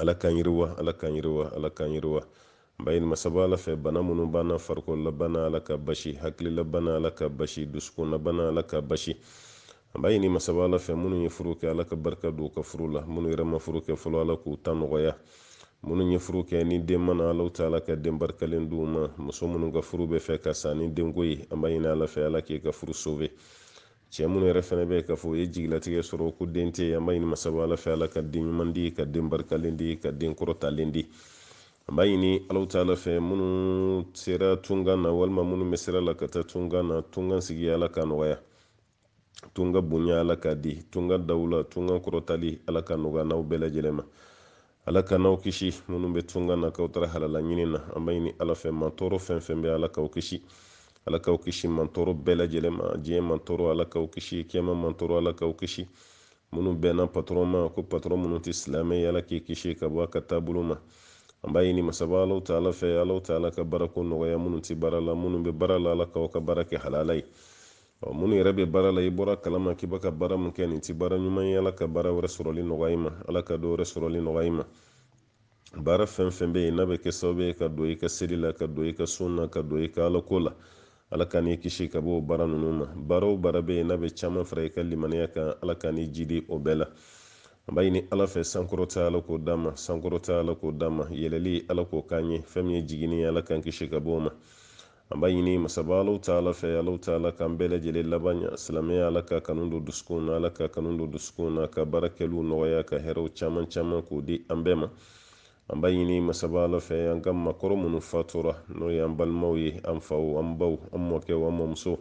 ala k'an yiriwa ala k'an yiriwa ala k'an yiriwa b'a ɲini masaba ala fɛ bana minnu b'an na farikololabana ala ka basi hakililabana ala ka basi dusukunnabana ala ka basi an b'a ɲini masaba ala fɛ minnu ye furu kɛ ala ka barika don ka furu la minnu yɛrɛ ma furu kɛ fɔlɔ ala k'u ta nɔgɔya minnu ye furu kɛ ni den ma na alaw taala ka den barikalen d'u ma muso minnu ka furu bɛ fɛ ka sa ni denko ye an b'a ɲini ala fɛ ala k'e ka furu sɔbɛ cɛ minnu yɛrɛ fɛnɛ bɛ k'a fɔ u ye jigilatigɛ sɔrɔ ko den tɛ an b'a ɲini masaba ala fɛ ala ka den ɲuman di ka den barikalen di ka den kɔrɔtalen di an b'a ɲini alaw taala fɛ minnu sera tunkan na walima minnu bɛ sira la ka taa tunkan na tunkan sigi ala ka nɔgɔya tunka bonya ala k'a di tunka dawula tunkan kɔrɔtali ala ka nɔgɔya n'aw bɛɛ lajɛlen ma ala k'an n'aw kisi minnu bɛ tunga na k'aw taara halala ɲini na an b'a ɲini ala fɛ mantɔɔrɔ fɛn fɛn bɛ ala k'aw kisi ala k'aw kisi mantɔɔrɔ bɛɛ lajɛlen ma diɲɛ mantɔɔrɔ ala k'aw kisi kiyama mantɔɔrɔ ala k'aw kisi minnu bɛnna patɔrɔn ma ko patɔrɔn minnu tɛ silamɛ ye ala k'i kisi ka bɔ a ka taabolo ma an b'a ɲini masaba alaw taala fɛ alaw taala ka baarako nɔgɔya minnu tɛ baara la minnu bɛ baara la ala k'aw ka baara kɛ halala ye Ɔ minnu yɛrɛ bɛ baara la i bɔr'a kalama k'i bɛ ka baara min kɛ nin tɛ baara ɲuman ye ala ka baara wɛrɛ sɔrɔli nɔgɔya i ma ala ka dɔ wɛrɛ sɔrɔli nɔgɔya i ma baara fɛn fɛn bɛ yen n'a bɛ kɛ sababu ye ka don i ka seli la ka don i ka sun na ka don i ka alako la ala k'an n'i kisi ka bɔ o baara ninnu ma baara o baara bɛ yen n'a bɛ caman fara i ka limaniya kan ala k'an n'i jidi o bɛɛ la an b'a ɲini ala fɛ sankɔrɔta ala k'o d'an ma sankɔrɔta ala k'o d'an ma yɛlɛli ala k'o k'an ye fɛn min ye jiginni ye ala k'an kisi ka bɔ o ma an b'a ɲini masaba alaw taala fɛ alaw taala k'an bɛɛ lajɛlen laban ɲa silamɛya ala ka kanu don dusukunw na ala ka kanu don dusukunw na ka baara kɛliw nɔgɔya ka hɛrɛw caman caman k'o di an bɛɛ ma an b'a ɲini masaba ala fɛ an ka maakɔrɔ minnu fatura n'o ye an balimaw ye an faw an baw an mɔkɛw an mɔmuso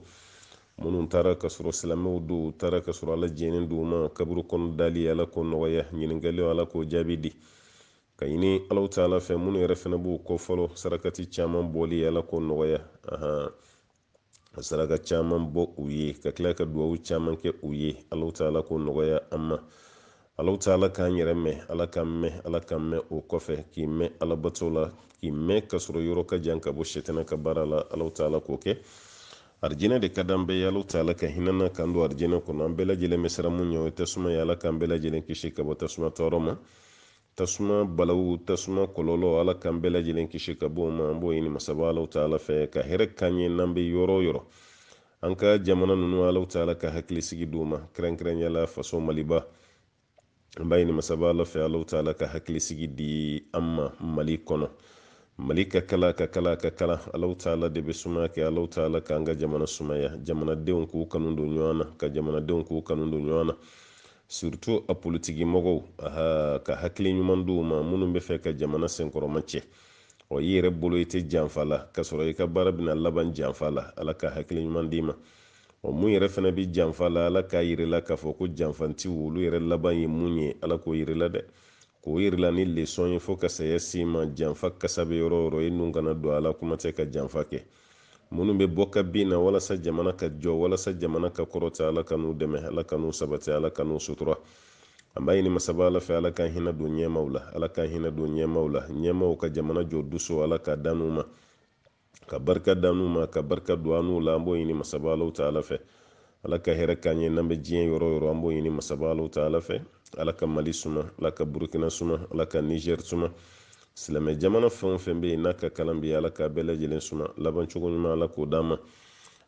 minnu taara ka sɔrɔ silamɛw don u taara ka sɔrɔ ala jɛnnen d'u ma kaburu kɔnɔ dali ala k'o nɔgɔya ɲininkaliw ala k'o jaabi di k'a ɲini alaw taala fɛ minnu yɛrɛ fana b'u kɔ fɔlɔ sarakati caman bɔli ala k'o nɔgɔya ahan ka saraka caman bɔ u ye ka tila ka duwawu caman kɛ u ye alaw taala k'o nɔgɔya an ma alaw taala k'an yɛrɛ mɛn ala k'an mɛn ala k'an mɛn o kɔfɛ k'i mɛn alabato la k'i mɛn ka sɔrɔ yɔrɔ ka jan ka bɔ sɛtɛnɛ ka baara la alaw taala k'o kɛ arijinɛ de ka d'an bɛɛ ye alaw taala ka hinɛ an na k'an don arijinɛ kɔnɔ an bɛɛ lajɛlen bɛ siran mun ɲɛ o ye tasuma ye ala k'an bɛɛ lajɛlen kisi ka bɔ tasuma tɔɔrɔ ma tasuma balawu tasuma kɔlɔlɔ ala k'an bɛɛ lajɛlen kisi ka bɔ o ma an b'o ɲini masaba alaw taala fɛ ka hɛrɛ k'an ye n'an bɛ yɔrɔ o yɔrɔ an ka jamana ninnu alaw taala ka hakili sigi d'u ma kɛrɛnkɛrɛnya la faso maliba an b'a ɲini masaba ala fɛ alaw taala ka hakili sigi di an ma mali kɔnɔ mali ka kalan ka kalan ka kalan alaw taala de bɛ sumaya kɛ alaw taala k'an ka jamana sumaya jamanadenw k'u kanu don ɲɔgɔn na ka jamanadenw k'u kanu don ɲɔgɔn na surtout a politiki mɔgɔw aha ka hakili ɲuman d'u ma minnu bɛ fɛ ka jamana senkɔrɔma cɛ ɔ i yɛrɛ bolo i tɛ janfa la ka sɔrɔ i ka baara bɛna laban janfa la ala ka hakili ɲuman d'i ma ɔ mun yɛrɛ fana bɛ janfa la ala k'a yirila k'a fɔ ko janfantiw olu yɛrɛ laban ye mun ye ala k'o yirila dɛ k'o yirila ni lesɔn ye fo ka saya s'i ma janfa kasa bɛ yɔrɔ o yɔrɔ i nun kana don a la kuma tɛ ka janfa kɛ minnu bɛ bɔ ka bin na walasa jamana ka jɔ walasa jamana ka kɔrɔta ala k'an n'u dɛmɛ ala k'an n'u sabati ala k'an n'u sutura an b'a ɲini masaba ala fɛ ala ka hinɛ don ɲɛmaw la ala ka hinɛ don ɲɛmaw la ɲɛmaw ka jamana jɔ dusu ala k'a d'an n'u ma ka barika d'an n'u ma ka barika don an n'u la an b'o ɲini masaba alahu taala fɛ ala ka hɛrɛ k'an ye n'an bɛ diɲɛ yɔrɔ o yɔrɔ an b'o ɲini masaba alahu taala fɛ ala ka mali suma ala ka burukina suma ala ka nizɛri suma silamɛ jamana fɛn o fɛn bɛ yen n'a ka kalan bi ala ka bɛɛ lajɛlen suma labancogo ɲuman ala k'o d'an ma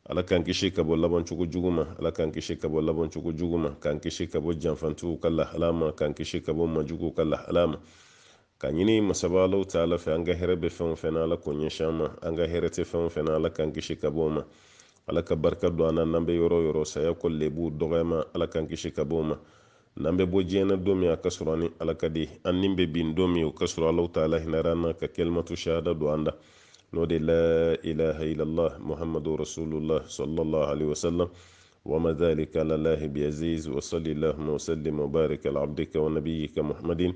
ala k'an kisi ka bɔ labancogo jugu ma ala k'an kisi ka bɔ labancogo jugu ma k'an kisi ka bɔ janfantigiw ka lahala ma k'an kisi ka bɔ majuguw ka lahala ma Ka ɲini masaba Alahu taala fɛ an ka hɛrɛ bɛ fɛn o fɛn na Ala k'o ɲɛsin an ma, an ka hɛrɛ tɛ fɛn o fɛn na Ala k'an kisi ka bɔ o ma, Ala ka barika don an na n'an bɛ yɔrɔ o yɔrɔ saya kɔ lebu dɔgɔyama Ala k'an kisi ka bɔ o ma, n'an bɛ bɔ diɲɛ na don min a ka sɔrɔ an ni Ala ka di, an ni bɛ bin don min o ka sɔrɔ Alahu taala hinɛra an na ka kalimatu shahada don an da n'o de laa ilaaha ilallah Muhamadou rasoulullah salalahu aleyhi wa salam wa ma zalika alalahi biaziz wa sɔli lahuma wa salim wa barik ala abdika wa nabiyika Muhamadin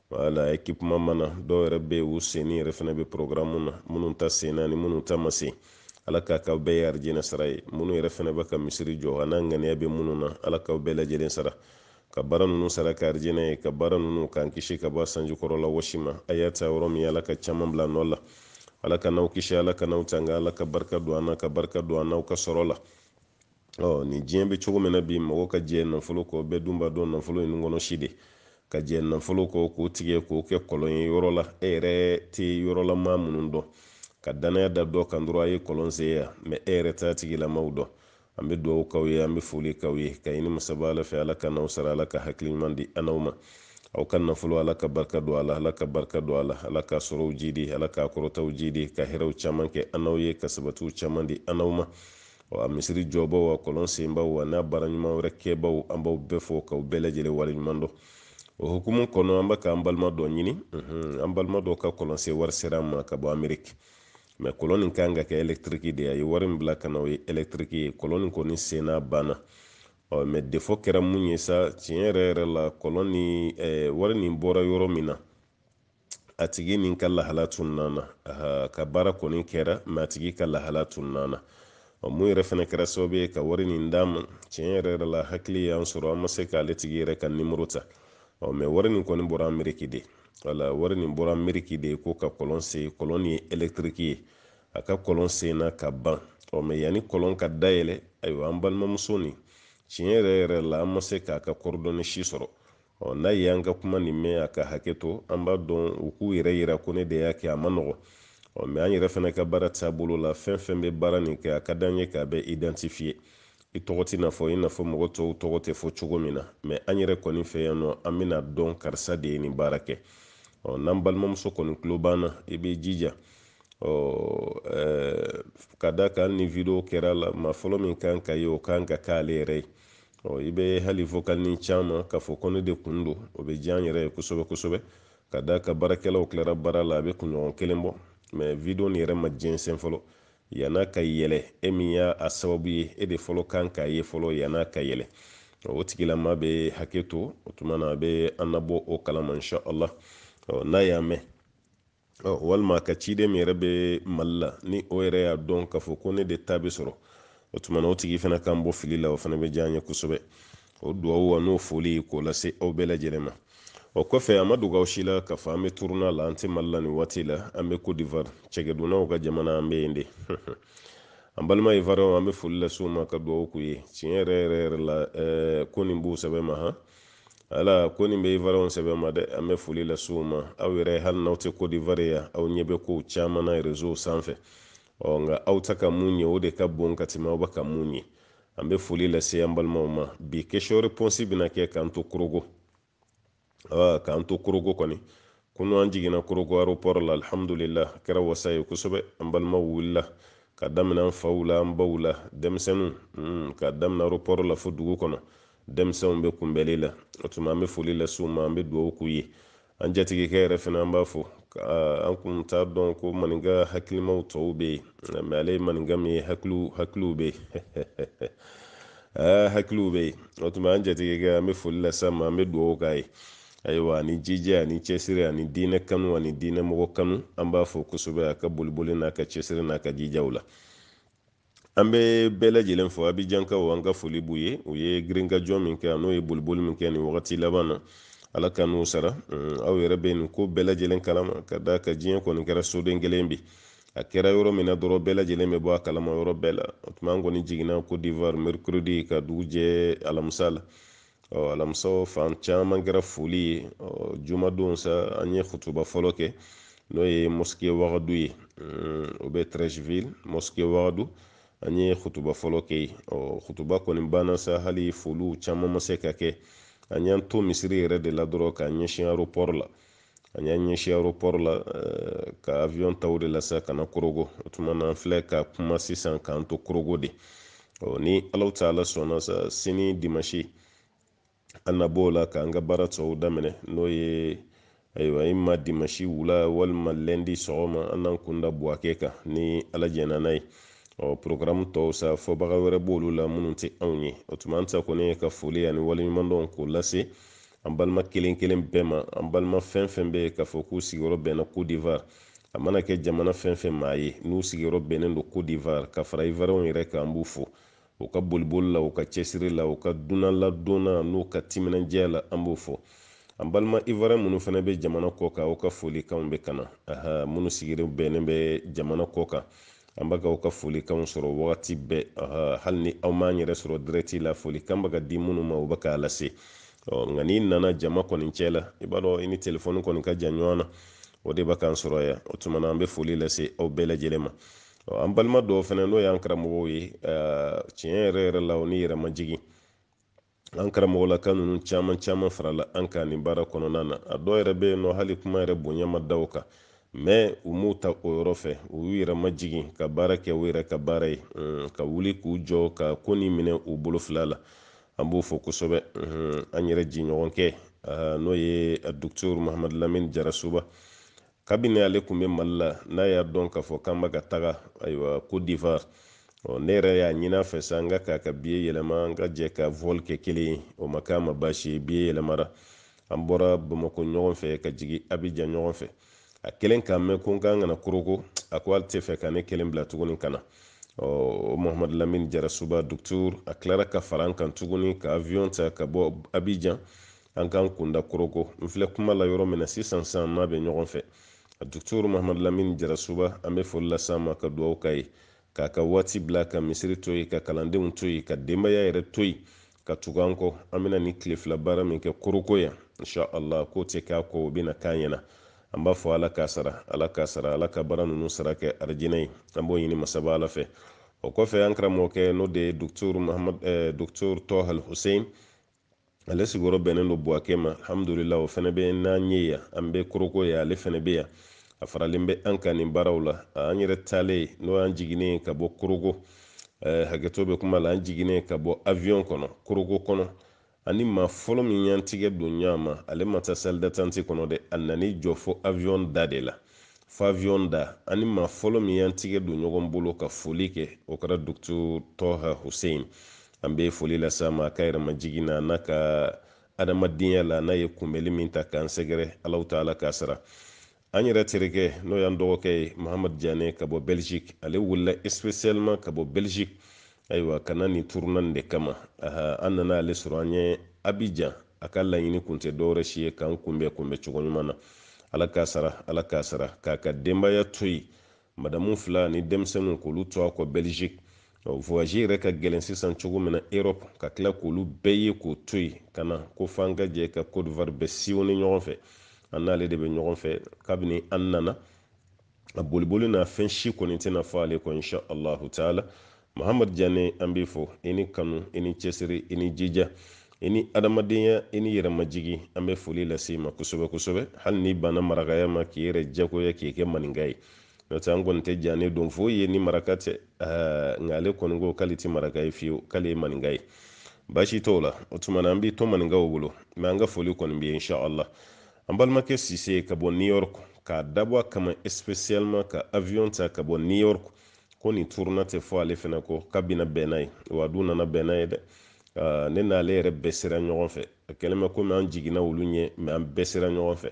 wala ekipuma mana dɔw yɛrɛ bɛ yen u senni yɛrɛ fana bɛ porogramu na minnu ta senna ni minnu ta ma sen ala k'a k'aw bɛɛ ye arijinɛ sara ye minnu yɛrɛ fana bɛ ka misiri jɔ a n'a ŋaniya bɛ minnu na ala k'aw bɛɛ lajɛlen sara ka baara ninnu sara kɛ arijinɛ ye ka baara ninnu k'an kisi ka bɔ sanji kɔrɔla wɔsi ma a y'a ta yɔrɔ min ala ka caman bila nɔ la ala k'an n'aw kisi ala k'an n'aw tanga ala ka barika don an na ka barika don an n'aw ka sɔrɔ la ɔ nin diɲɛ bɛ cogo min na bi mɔgɔ ka jɛ nafolo kɔ bɛɛ dun b'a dɔn nafolo nun kɔnɔ si de ka jɛ nafolo kɔ k'o tigɛ k'o kɛ kɔlɔn ye yɔrɔ la e yɛrɛ tɛ yɔrɔla maa minnu dɔn ka danaya da dɔ kan dɔrɔn a ye kɔlɔn sen yan mɛ e yɛrɛ t'a tigilamaw dɔn an bɛ dugawu k'aw ye an bɛ foli k'aw ye ka ɲini masaba ala fɛ ala k'an n'aw sara ala ka hakili ɲuman di an n'aw ma aw ka nafolo ala ka barika don a la ala ka barika don a la ala ka sɔrɔw jidi ala ka kɔrɔtaw jidi ka hɛrɛw caman kɛ an n'aw ye ka sabatiw caman di an n'aw ma wa misiri jɔbaw wa kɔlɔn senbaw wa n'a baara ɲuman wɛrɛ kɛbaw an b'aw bɛɛ fo k'aw bɛɛ lajɛlen waleɲuman dɔn o hukumu kɔnɔ an bɛ k'an balima dɔ ɲini an balima dɔ ka kɔlɔnsen wari sera an ma ka bɔ ameriki mɛ kɔlɔn nin kan ka kɛ ɛlɛktiriki de a ye wari min bila ka na o ye ɛlɛktiriki ye kɔlɔn nin kɔni senna banna ɔ mɛ defɔ kɛra mun ye sa tiɲɛ yɛrɛ yɛrɛ la kɔlɔn nin wari nin bɔra yɔrɔ min na a tigi nin ka lahala tununa na a ka baara kɔni kɛra mɛ a tigi ka lahala tununa na ɔ mun yɛrɛ fana kɛra sababu ye ka wari nin d'a ma tiɲɛ yɛrɛ yɛrɛ la hakili y'an sɔrɔ an ma se k'ale tigi yɛrɛ ka nimoro ta ɔ mɛ wari nin kɔni bɔra ameriki de wala wari nin bɔra ameriki de ko ka kɔlɔn sen kɔlɔn nin ye elektiriki ye a ka kɔlɔn senna ka ban ɔ mɛ yanni kɔlɔn ka dayɛlɛ ayiwa an balimamuso nin tiɲɛ yɛrɛ yɛrɛ la an ma se k'a ka coordonnées si sɔrɔ ɔ n'a ye an ka kuma nin mɛn a ka hakɛ to an b'a dɔn u k'u yɛrɛ yira ko ne de y'a kɛ a ma nɔgɔ ɔ mɛ an yɛrɛ fana ka baara taabolo la fɛn fɛn bɛ baara nin kɛ a ka d'an ye k'a bɛɛ identifiye i tɔgɔ tɛna fɔ i n'a fɔ mɔgɔ tɔw tɔgɔ tɛ fɔ cogo min na mɛ an yɛrɛ kɔni fɛ yan nɔ an bɛna dɔn karisa de ye nin baara kɛ ɔ n'an balimamuso kɔni tulo b'an na i b'i jija ɔ ka da kan ni video kɛra la maa fɔlɔ min kan k'a ye o kan ka k'ale yɛrɛ ye ɔ i bɛ hali vokalini c'an ma k'a fɔ ko ne de kun don o bɛ diya an yɛrɛ ye kosɛbɛ kosɛbɛ ka da kan baarakɛlaw tilara baara la a bɛ kunɲɔgɔn kelen bɔ mɛ video nin yɛrɛ ma jɛnsɛn fɔlɔ yan'a ka yɛlɛ e min y'a a sababu ye e de fɔlɔ kan k'a ye fɔlɔ yan'a ka yɛlɛ o tigilama bɛ hakɛ to o tuma na a bɛ an nabɔ o kalama insha allah n'a y'a mɛn walima a ka ciden min yɛrɛ bɛ mali la ni o yɛrɛ y'a dɔn k'a fɔ ko ne de ta bɛ sɔrɔ o tuma na o tigi fana k'an bɔ fili la o fana bɛ diya an ye kosɛbɛ o duwawu an'o foli k'o lase aw bɛɛ lajɛlen ma o kɔfɛ a ma dogo aw si la k'a fɔ an bɛ turune la an tɛ mali la nin waati la an bɛ cote d'ivoire cɛkɛdunnaw ka jamana an bɛ yen de an balima ivoiriyɛnw an bɛ foli lase u ma ka duwawu k'u ye tiɲɛ yɛrɛ yɛrɛ yɛrɛ la ko nin b'u sɛbɛ ma han ala ko nin bɛ ivoiriyɛnw sɛbɛ ma dɛ an bɛ foli lase u ma aw yɛrɛ hali n'aw tɛ cote d'ivoire yan aw ɲɛ bɛ kow caman na rezow sanfɛ ɔ nka aw tɛ ka mun ye o de ka bon ka tɛmɛ aw bɛ ka mun ye an bɛ foli lase an balimaw ma bi question réponse bɛna kɛ k'an to korogo k'an to korogo kɔni kunu an jiginna korogo aéroport la alhamdulillah a kɛra wasa ye kosɛbɛ an balimaw wulila ka daminɛ an faw la an baw la denmisɛnninw hmm, ka daminɛ aéroport la fo dugu kɔnɔ denmisɛnw bɛ kunbɛli la o tuma an bɛ foli lase u ma an bɛ dugawu k'u ye an jatigikɛ yɛrɛ fana an b'a fo an kun t'a dɔn ko maninka hakilimaw tɔw bɛ yen mɛ ale ye maninka min ye hakiliw hakiliw bɛ yen hakiliw bɛ yen o tuma an jatigikɛ an bɛ foli lase a ma an bɛ dugawu k'a ye ayiwa ani jija ani cɛsiri ani diinɛ kanu ani diinɛ mɔgɔ kanu an b'a fo kosɛbɛ a ka boliboli n'a ka cɛsiri n'a ka jijaw la an bɛ bɛɛ lajɛlen fo abijankaw an ka foli b'u ye u ye girinkajɔ min kɛ n'o ye boliboli min kɛ nin wagati laban na ala ka n'u sara mm, aw yɛrɛ bɛ nin ko bɛɛ lajɛlen kalama ka da kan diɲɛ kɔni kɛra soden kelen bi a kɛra yɔrɔ min na dɔrɔn bɛɛ lajɛlen bɛ bɔ a kalama yɔrɔ bɛɛ la o tuma an kɔni jiginna cote d'ivoire mercredi ka dugu jɛ alamisa la ɔ alamisa fan caman kɛra foli ye ɔ jumadon sa an ye kutuba fɔlɔ kɛ n'o ye mosquée wagadu ye o bɛ Treichville mosquée wagadu an ye kutuba fɔlɔ kɛ yen ɔ kutuba kɔni banna sa hali foliw caman ma se ka kɛ an y'an to misiri yɛrɛ de la dɔrɔn k'an ɲɛsin aéroport la an y'an ɲɛsin aéroport la eh, ka avion ta o de la sa ka na korogo o tuma na an filɛ ka kuma sisan k'an to korogo de ɔ ni Alahu Taala sɔnna sa sini dimanche an na b'o la k'an ka baara tɔw daminɛ n'o ye ayiwa ima dimanche wula walima lundi sɔgɔma an n'an kunda buwake kan ni ala jɛnna n'a ye ɔ programme tɔw sa fɔbaga wɛrɛ b'olu la minnu tɛ anw ye o tuma an ta kɔni ye ka foli ani waleɲumandɔn k'o lase an balima kelen kelen bɛɛ ma an balima fɛn fɛn bɛ yen k'a fɔ k'u sigiyɔrɔ bɛnna Côte d'Ivoire a mana kɛ jamana fɛn fɛn maa ye n'u sigiyɔrɔ bɛnnen don Côte d'Ivoire ka fara Ivoirienw yɛrɛ kan an b'u fo u ka boliboli la u ka cɛsiri la u ka dunanladon na n'u ka timinandiya la an b'u fo an balima Ivoirien minnu fana bɛ jamana kɔ kan aw ka folikanw bɛ ka na aha minnu sigiyɔrɔ bɛnnen bɛ jamana kɔ kan an bɛ ka aw ka folikanw sɔrɔ wagati bɛɛ hali ni aw m'an yɛrɛ sɔrɔ direct la folikan bɛ ka di minnu ma u bɛ k'a lase nka n'i nana jama kɔni cɛ la i b'a dɔn i ni telefɔni kɔni ka jan ɲɔgɔn na o de bɛ k'an sɔrɔ yan o tuma na an bɛ foli lase aw bɛɛ lajɛlen ma an balima dɔw fana n'o y'an karamɔgɔw ye tiɲɛ yɛrɛ yɛrɛ la o ni yɛrɛmajigin an karamɔgɔlaka ninnu caman caman farala an kan nin baara kɔnɔna na a dɔw yɛrɛ bɛ yen nɔ hali kuma yɛrɛ bonya ma da u kan mais u m'o ta o yɔrɔ fɛ u y'u yɛrɛ majigin ka baara kɛ u yɛrɛ ka baara ye ka wuli k'u jɔ ka ko nin minɛ u bolo fila la an b'u fo kosɛbɛ an yɛrɛ jɛɲɔgɔnkɛ n'o ye docteur mahamadu lamini jarasuba kabini ale tun bɛ mali la n'a y'a dɔn k'a fɔ k'an bɛ ka taga ayiwa Côte d'Ivoire ɔ ne yɛrɛ y'a ɲin'a fɛ sa n k'a k'a ka billet yɛlɛma an ka jɛ ka vol kɛ kelen ye o ma k'a ma baasi ye billet yɛlɛmara an bɔra bamakɔ ɲɔgɔn fɛ ka jigi Abidjan ɲɔgɔn fɛ a kɛlen k'a mɛn ko n ka kan ka na koroko a ko ale tɛ fɛ ka ne kelen bila tuguni ka na ɔ mohamadu lamini jarasuba docteur a tilara ka fara an kan tuguni ka avion ta ka bɔ Abidjan an k'an kunda koroko n filɛ kuma la yɔrɔ min na sisan sa n n'a bɛ ɲɔgɔn fɛ a docteur mahamadu lamini jarasuba an bɛ foli lase a ma ka dugawu k'a ye k'a ka waati bila ka misiri to yen ka kalandenw to yen ka denbaya yɛrɛ to yen ka tugu an kɔ an bɛna nin tile fila baara min kɛ koroko yan insha allah k'o tɛ k'a kɔ o bɛna k'a ɲɛna an b'a fɔ ala k'a sara ala k'a sara ala ka baara ninnu sara kɛ arijinɛ ye an b'o ɲini masaba ala fɛ o kɔfɛ an karamɔgɔkɛ n'o de ye docteur mahamadu eh, docteur tɔhal hussein ale sigiyɔrɔ bɛnnen don buwakɛ ma alhamdulila o fana bɛ n'an ye yan an bɛ koroko yan ale fana bɛ yan a faralen bɛ an kan nin baaraw la an yɛrɛ taalen n'o y'an jiginnen ka bɔ koroko eh, hakɛto bɛ kuma la an jiginnen ka bɔ avion kɔnɔ koroko kɔnɔ an ni maa fɔlɔ min y'an tigɛ don ɲɔgɔn ma ale ma taa salle d'attente kɔnɔ dɛ a nan'i jɔ fo avion da de la fo avion da an ni maa fɔlɔ min y'an tigɛ don ɲɔgɔn bolo ka foli kɛ o kɛra docteur toha hussein an bɛ foli lase a ma a ka yɛrɛmajigin na n'a ka adamadenya la n'a ye kunbɛli min ta k'an sɛgɛrɛ allahu taala k'a sara an yɛrɛ terikɛ n'o y'an dɔgɔkɛ ye mahamadu jane ka bɔ belgique ale wulila spécialement ka bɔ belgique ayiwa ka na nin turuna nin de kama an nana ale sɔrɔ an ɲɛ abijan a ka laɲini kun tɛ dɔwɛrɛ si ye k'an kunbɛ kunbɛ cogo ɲuman na ala k'a sara ala k'a sara k'a ka denbaya to yen madamu fila ni denmisɛnninw k'olu to a kɔ belgique voyage yɛrɛ ka gɛlɛn sisan cogo min na europe ka tila k'olu bɛɛ ye k'o to yen ka na ko f'an ka jɛ ka côte d'ivoire bɛɛ sillonner ɲɔgɔn fɛ an n'ale de bɛ ɲɔgɔn fɛ kabini an nana a boliboli n'a fɛn si kɔni tɛna fɔ ale kɔ insha allahu taala mahamadu jane an b'i fo i ni kanu i ni cɛsiri i ni jija i ni adamadenya i ni yɛrɛmajigi an bɛ foli lase i ma kosɛbɛ kosɛbɛ hali n'i banna marakaya ma k'i yɛrɛ jagoya k'i kɛ maninka ye n'o tɛ an kɔni tɛ jane dɔn foyi ye ni maraka tɛ nka ale kɔni ko k'ale tɛ maraka ye fiyewu k'ale ye maninka ye baasi t'o la o tuma na an b'i to maninkaw bolo mɛ an ka foli kɔni b'i ye inshallah an balimakɛ sise ka bɔ new york k'a dabɔ a kama spécialement ka avion ta ka bɔ new york ko nin turuna tɛ fɔ ale fana kɔ k'a bɛna bɛn n'a ye wa a dun nana bɛn n'a ye dɛ ne n'ale yɛrɛ bɛɛ sera ɲɔgɔn fɛ a kɛlen bɛ komi an jiginna olu ɲɛ mɛ an bɛɛ sera ɲɔgɔn fɛ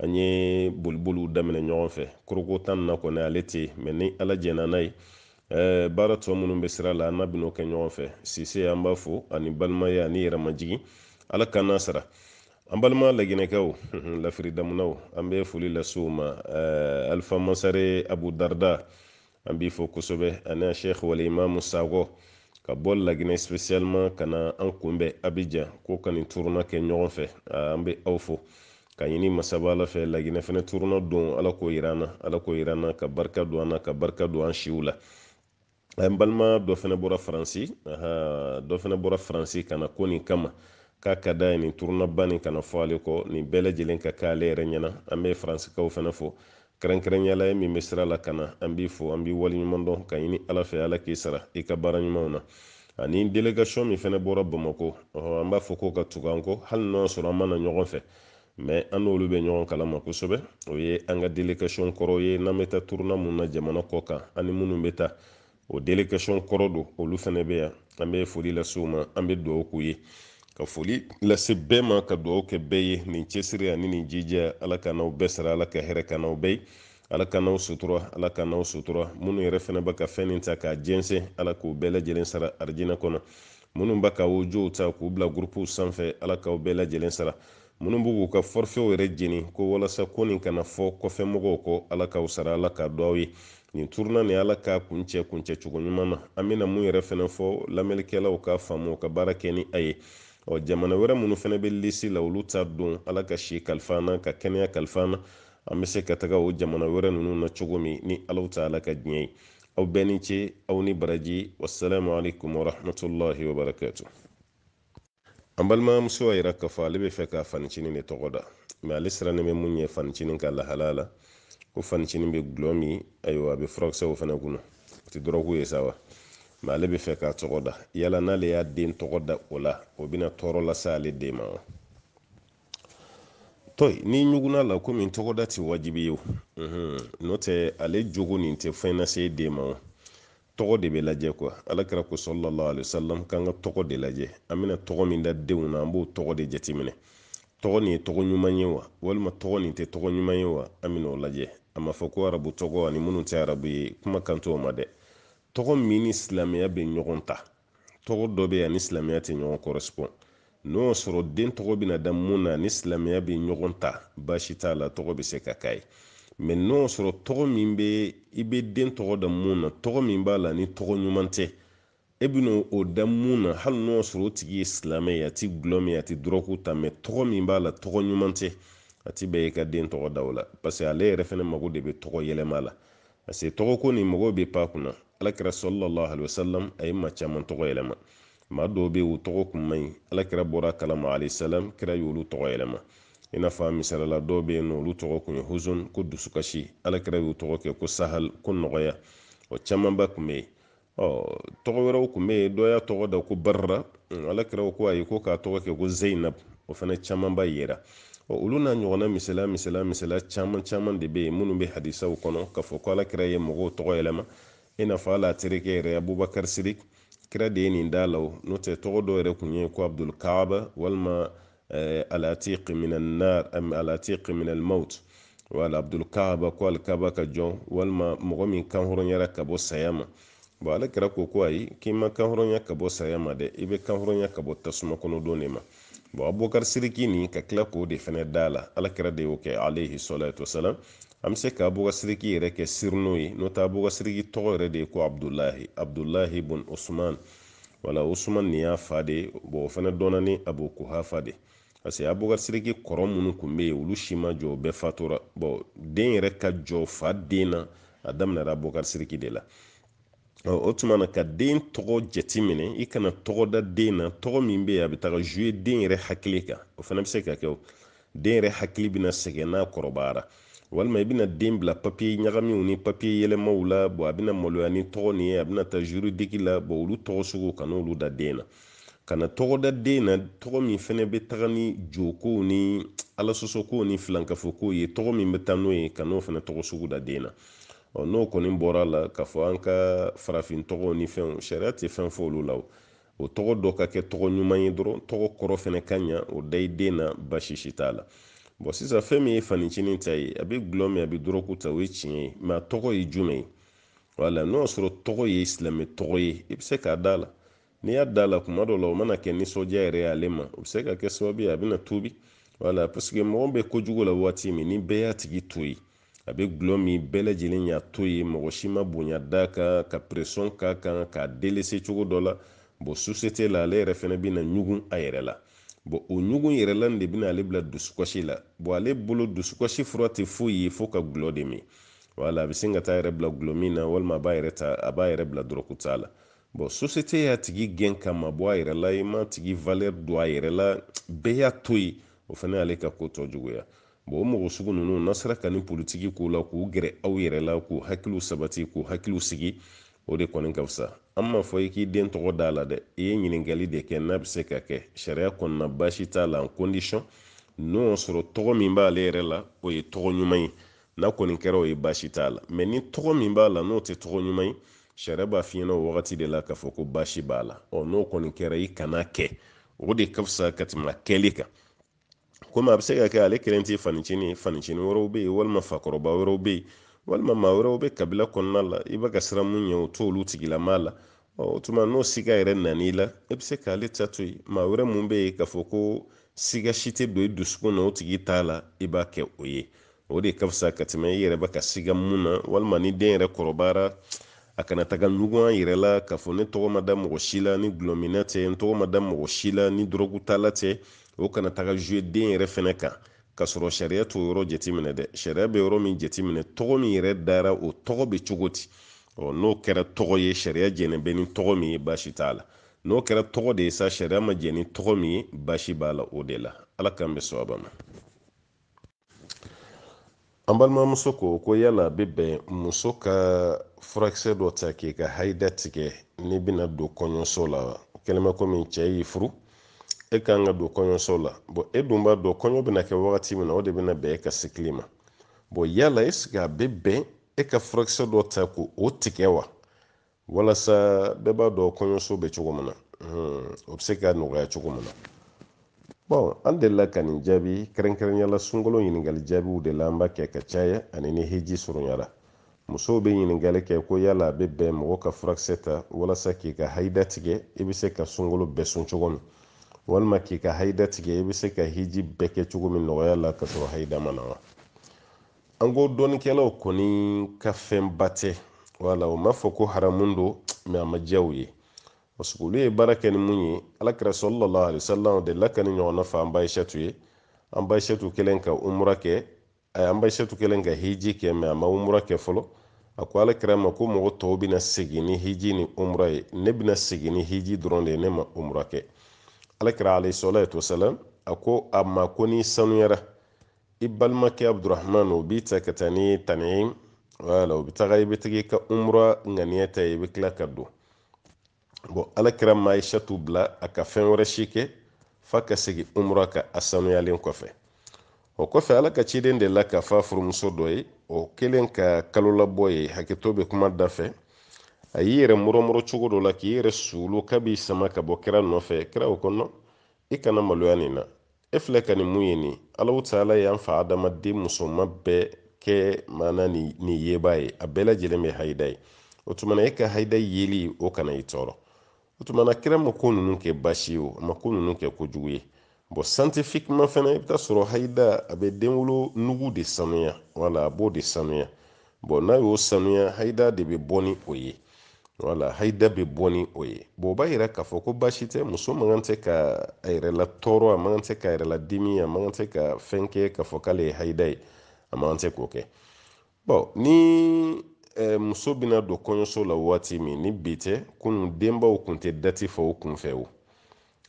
an ye boliboliw daminɛ ɲɔgɔn fɛ koroko ta in na kɔni ale tɛ yen mɛ ni ala jɛnna n'a ye baara tɔ minnu bɛ sira la an n'a bɛn'o kɛ ɲɔgɔn fɛ sise an b'a fo a ni balimaya a ni yɛrɛmajigin ala k'an n'a sara an balima laginɛkɛw lafiri damunaw an bɛ foli lase u ma eh, alifa mansare abu darda an b'i fo kosɛbɛ ani a sheikh wal imamu sakɔ ka bɔ laginɛ spécialement ka na an kunbɛn abijan ko ka nin turuna kɛ ɲɔgɔn fɛ ah, an bɛ aw fo ka ɲini masaba ala fɛ laginɛ fɛnɛ turuna don ala k'o yira an na ala k'o yira an na ka barika don an na ka barika don an siw la an balima dɔ fɛnɛ bɔra faransi dɔ fɛnɛ bɔra faransi ka na ko nin kama k'a ka d'a ye nin turunaba nin kana fɔ ale kɔ nin bɛɛ lajɛlen ka kɛ ale yɛrɛ ɲɛna an bɛ faransikaw fɛnɛ fo kɛrɛnkɛrɛnya la e min bɛ sira la ka na an b'i fo an b'i waleɲuman dɔn ka ɲini ala fɛ ala k'i sara i ka baara ɲumanw na ani délégation min fɛnɛ bɔra bamako an b'a fɔ ko ka tugu an kɔ hali n'o sɔrɔ an ma na ɲɔgɔn fɛ mɛ an n'olu bɛ ɲɔgɔn kalama kosɛbɛ o ye an ka delegasɔn kɔrɔ ye n'an bɛ taa turuna mun na jamana kɔ kan ani minnu bɛ taa o delegasɔn kɔrɔ don olu fɛnɛ bɛ yan an bɛ foli lase u ma an bɛ dugawu k'u ye ka foli lase bɛɛ ma ka dugawu kɛ bɛɛ ye nin cɛsiri ani nin jija ala k'an n'aw bɛɛ sara ala ka hɛrɛ k'an n'aw bɛɛ ye ala k'an n'aw sutura ala k'an n'aw sutura minnu yɛrɛ fɛnɛ bɛ ka fɛn nin ta k'a jɛnsɛn ala k'u bɛɛ lajɛlen sara arijinɛ kɔnɔ minnu bɛ ka odiyow ta k'u bila gurupuw sanfɛ ala k'aw bɛɛ lajɛlen sara minnu b'u k'u ka fɔrifɛw yɛrɛ jeni ko walasa ko nin kana fɔ kɔfɛ mɔgɔw kɔ ala k'aw sara ala k'a dɔn aw ye nin turuna nin ala k'a kuncɛ kuncɛ cogo ɲuman na an bɛna mun yɛrɛ fɛnɛ fɔ lamɛnlikɛlaw k'a faamu u ka baara kɛ ni a ye ɔ jamana wɛrɛ minnu fɛnɛ bɛ lisi la olu ta don ala ka si kalifa an na ka kɛnɛya kalifa an na an bɛ se ka taga o jamana wɛrɛ ninnu na cogo min ni ala ta ala ka diɲɛ ye aw bɛɛ ni ce aw ni baraji wassalamu alaikum warahmatullahi wabarakatu an balimamuso y'a yira k'a fɔ ale bɛ fɛ ka fanicinin de tɔgɔ da mɛ ale sirannen bɛ mun ɲɛ fanicinin ka lahala la ko fanicinin bɛ gulɔ min ayiwa a bɛ furakisɛw fana kunna o tɛ dɔrɔgu ye sa wa mɛ ale bɛ fɛ k'a tɔgɔ da yala n'ale y'a den tɔgɔ da o la o bɛna tɔɔrɔ lase ale den ma wa to yi n'i ɲugunna a la komi tɔgɔda tɛ wajibi ye n'o tɛ ale jogo nin tɛ fɛn lase den ma o tɔgɔ de bɛ lajɛ kuwa alakira ko sallallahu alaihi wasallam k'an ka tɔgɔ de lajɛ an bɛna tɔgɔ min da denw na an b'o tɔgɔ de jateminɛ tɔgɔ nin ye tɔgɔ ɲuman ye wa walima tɔgɔ nin tɛ tɔgɔ ɲuman ye wa an bɛna o lajɛ a ma fɔ ko arabu tɔgɔ ani minnu tɛ arabu ye kuma kan t'o ma dɛ tɔgɔ min ni silamɛya bɛ ɲɔgɔn ta tɔgɔ dɔ bɛ yan ni silamɛya tɛ ɲɔgɔn kɔrɛsipɔn n'o y'a sɔrɔ den tɔgɔ bɛna da mun na ni silamɛya bɛ ɲɔgɔn ta baasi t'a la tɔgɔ bɛ se ka k'a ye mɛ n'o y'a sɔrɔ tɔgɔ min bɛ i bɛ den tɔgɔ da mun na tɔgɔ min b'a la ni tɔgɔ ɲuman tɛ e bɛna o da mun na hali n'o y'a sɔrɔ o tigi ye silamɛ ye a ti gulɔ min a ti dɔrɔgu ta mɛ tɔgɔ min b'a la tɔgɔ ɲuman tɛ a ti bɛn i ka den tɔgɔ da o la parce que ale yɛrɛ fɛnɛ mago de bɛ tɔgɔ yɛlɛma la parce que tɔgɔ ko nin mɔgɔw bɛ pan a kunna alakira sallallahu alaihi wasallam a ye maa caman tɔgɔ yɛlɛma maa dɔw bɛ yen u tɔgɔ kun man ɲi alakira bɔra a kalama alaihi salam kira y'olu tɔgɔ yɛlɛma i n'a fɔ misala la dɔw bɛ yen n'olu tɔgɔ kun ye huzun ko dusukasi alakira y'u tɔgɔ kɛ ko sahal ko nɔgɔya o camanba kun bɛ yen ɔ tɔgɔ wɛrɛw kun bɛ yen dɔ y'a tɔgɔ da ko barra ala kira ko ayi ko k'a tɔgɔ kɛ ko zeyinab o fana camanba yera ɔ olu n'a ɲɔgɔnna misala misala caman caman de bɛ yen minnu bɛ hadisaw kɔnɔ k'a fɔ ko ala kira ye mɔgɔw tɔgɔ yɛlɛma i n'a fɔ ale terikɛ yɛrɛ abubakar sidik kira de ye nin da a la o n'o tɛ tɔgɔ dɔ yɛrɛ kun ye ko abdul kaaba walima eh, alatiq min annar am alatiq min almaut wala abdul kaaba ko alkaba ka jɔn walima mɔgɔ min kanhɔrɔnyara ka bɔ saya ma bɔn ala kira ko ko ayi k'i ma kanhɔrɔnya ka bɔ saya ma dɛ i bɛ kanhɔrɔnya ka bɔ tasuma kɔnɔdon de ma bɔn abubakar siriki nin ka tila k'o de fɛnɛ d'a la ala kira de y'o kɛ alayhi salatu wasalam an bɛ se ka abubakar siriki yɛrɛ kɛ surnom ye n'o tɛ abubakar siriki tɔgɔ yɛrɛ de ye ko abdulahi abdulahi bun usman wala usman nin y'a fa de bɔn o fana dɔnna ni abu kuhafa de parce que abubakar siriki kɔrɔ minnu kun bɛ yen olu si ma jɔ o bɛɛ fatura bɔn den yɛrɛ ka jɔ fa den na a daminɛra abubakar siriki de la o tuma na ka den tɔgɔ jateminɛ i kana tɔgɔ da den na tɔgɔ min bɛ yen a bɛ taga jouer den yɛrɛ hakili kan o fana bɛ se ka kɛ den yɛrɛ hakili bɛna sɛgɛn n'a kɔrɔbayara walima i bɛna den bila papiye ɲagaminw ni papiye yɛlɛmaw la bɔn a bɛna maloya ni tɔgɔ nin ye a bɛna taa juridiki la bɔn olu tɔgɔ sugu kan'olu da den na kana tɔgɔ da den na tɔgɔ min fɛnɛ bɛ taga ni jokow ni alasɔsɔkow ni filankafokow ye tɔgɔ min bɛ taa n'o ye kan'o fɛnɛ tɔgɔ sugu da den na ɔ n'o kɔni bɔra la k'a fɔ an ka farafin tɔgɔw ni fɛnw sariya tɛ fɛn fɔ olu la O tɔgɔ dɔ ka kɛ tɔgɔ ɲuman ye dɔrɔn tɔgɔ kɔrɔ fana ka ɲa o da i den na basi si t'a la bɔn sisan fɛn min ye fanicinin ta ye a bɛ gulɔ min a bɛ dɔrɔku ta o ye tiɲɛ ye mɛ a tɔgɔ ye jumɛn ye wala n'o y'a sɔrɔ tɔgɔ ye silamɛ tɔgɔ ye i bɛ se k'a d'a la n'i y'a d'a la kuma dɔ la o mana kɛ nisɔndiya yɛrɛ ye ale ma o bɛ se ka kɛ sababu ye a bɛna tuubi wala paseke mɔgɔ bɛ kojugu la waati min ni bɛɛ y'a tigi to yen a bɛ gulɔ min bɛɛ lajɛlen y'a to yen mɔgɔ si ma bonya d'a kan ka pression k'a kan k'a delese cogo dɔ la bon susete la ale yɛrɛ fana bɛna ɲugun a yɛrɛ la bon o ɲugun yɛrɛ la de bɛna ale bila dusukasi la bon ale bolo dusukasi fura tɛ foyi ye fo ka gulɔ de min wala a bɛ sin ka t'a yɛrɛ bila gulɔmin na walima a b'a yɛrɛ ta a b'a yɛrɛ bila dɔrɔkuta la bon susete y'a tigi gɛn k'a mabɔ a yɛrɛ la i m'a tigi valeur dɔn a yɛrɛ la bɛɛ y'a to yen o fana y'ale ka ko tɔ juguya bon o mɔgɔ sugu ninnu n'a sera ka nin politiki k'u la k'u gɛrɛ aw yɛrɛ la k'u hakiliw sabati k'u hakiliw sigi o de kɔni ka fisa an m'a fɔ i k'i den tɔgɔ d'a la dɛ i ye ɲininkali de kɛ n'a bɛ se ka kɛ sariya kɔnɔna baasi t'a la en condition n'o y'a sɔrɔ tɔgɔ min b'ale yɛrɛ la o ye tɔgɔ ɲuman ye n'a kɔni kɛra o ye baasi t'a la mɛ ni tɔgɔ min b'a la n'o tɛ tɔgɔ ɲuman ye sariya b'a f'i ɲɛna o wagati de la k'a fɔ ko baasi b'a la ɔ n'o kɔni kɛra i kan'a kɛ o de ka fisa ka tɛmɛ kɛli kan komi a bɛ se ka kɛ ale kelen tɛ fanicini ye fanicini wɛrɛw bɛ yen walima fakɔrɔba wɛrɛw bɛ yen walima maa wɛrɛw bɛ kabila kɔnɔna la i bɛ ka siran mun ɲɛ o t'olu tigilamaa la o tuma n'o siga yɛrɛ nan'i la e bɛ se k'ale ta to yen maa wɛrɛ mun bɛ yen k'a fɔ ko siga si tɛ don i dusukun na o tigi ta la i b'a kɛ o ye o de ka fisa ka tɛmɛ i yɛrɛ bɛ ka siga mun na walima ni den yɛrɛ kɔrɔbayara a kana taga ɲugun a yɛrɛ la k'a fɔ ne tɔgɔ ma da mɔgɔ si la ni gulɔminna tɛ n tɔgɔ ma da mɔgɔ si la ni dɔrɔgutala tɛ o kana taga zuwe den yɛrɛ fɛnɛ kan ka sɔrɔ sariya t'o yɔrɔ jateminɛ dɛ sariya bɛ yɔrɔ min jateminɛ tɔgɔ min yɛrɛ dara o tɔgɔ bɛ cogo di ɔ n'o kɛra tɔgɔ ye sariya jɛnnen bɛ ni tɔgɔ min ye baasi t'a la n'o kɛra tɔgɔ de ye sa sariya ma jɛn ni tɔgɔ min ye baasi b'a la o de la ala k'an bɛɛ sababa ma an balimamuso ko ko yala a bɛ bɛn muso ka furakisɛ dɔ ta k'i ka haida tigɛ n'i bɛna don kɔɲɔso la wa kɛlɛmɛ komi cɛ y'i furu e ka kan ka don kɔɲɔso la bɔn e dun b'a dɔn kɔɲɔ bɛna kɛ wagati min na o de bɛna bɛn e ka sikili ma bɔn yala eseke a bɛ bɛn e ka furakisɛ dɔ ta k'o tigɛ wa walasa bɛɛ b'a dɔn kɔɲɔso bɛ cogo min na o bɛ se ka nɔgɔya cogo min na bɔn an delila ka nin jaabi kɛrɛnkɛrɛnya la sunkalo ɲininkali jaabiw de la an b'a kɛ ka caya ani ni hiji surunyara musow bɛ ɲininkali kɛ ko yala a bɛ bɛn mɔgɔ ka furakisɛ ta walasa k'i ka hayida tigɛ i bɛ se ka sunkalo bɛɛ sun cogo min walima k'i ka hayida tigɛ i bɛ se ka hiji bɛɛ kɛ cogo min nɔgɔya la ka sɔrɔ hayida ma na wa an ko dɔnnikɛlaw kɔni ka fɛnba tɛ wala u m'a fɔ ko haramu don mɛ a ma diya u ye parce que olu ye baara kɛ ni mun ye alakira salalahu alayhi wasalam delila ka nin ɲɔgɔnna fɔ an ba ayisatu ye an ba ayisatu kɛlen ka umura kɛ a an ba ayisatu kɛlen ka hiji kɛ mɛ a ma umura kɛ fɔlɔ a ko alakira ma ko mɔgɔ tɔw bɛna segin ni hiji ni umura ye ne bɛna segin ni hiji dɔrɔn de ye ne ma umura kɛ alakira alayhi salatu wasalam a ko a ma ko n'i sanuyara i balimakɛ abudurahman o b'i ta ka taa ni tanimu wala o bɛ taga i bɛ tigi ka umura ŋaniya ta i bɛ tila ka don bɔn alakira ma ayisatu bila a ka fɛn wɛrɛ si kɛ f'a ka segin umura kan a sanuyalen kɔfɛ o kɔfɛ ala ka ciden delila k'a fɔ furumuso dɔ ye o kɛlen ka kalolabɔ ye hakɛto bɛ kuma da fɛ a y'i yɛrɛ murɔmurɔ cogo dɔ la k'i yɛrɛ suulu k'a b'i sama ka bɔ kira nɔfɛ kira ko nɔn i kana maloya nin na e filɛ ka nin min ye nin alahu taala y'an fa adama den musoman bɛɛ kɛ maana nin yebaa ye a bɛɛ lajɛlen bɛ hayida ye o tumana e ka hayida yeli o kana i tɔɔrɔ o tumana kira ma ko ninnu kɛ baasi ye o a ma ko ninnu kɛ kojugu ye bɔn santifikima fana i bɛ taa sɔrɔ hayida a bɛ denwolo nugu de sanuya wala a b'o de sanuya bɔn n'a y'o sanuya hayida de bɛ bɔ ni o ye wala hayida bɛ bɔ ni o ye bɔn o b'a yira k'a fɔ ko baasi tɛ muso man kan tɛ ka a yɛrɛ latɔɔrɔ a man kan tɛ ka a yɛrɛ ladimi a man kan tɛ ka fɛn kɛ k'a fɔ k'ale ye hayida ye a man kan tɛ k'o kɛ bɔn ni eh, muso bɛna don kɔɲɔso la waati min ni bi tɛ kunun denbaw kun tɛ dati fɔ o kunfɛ o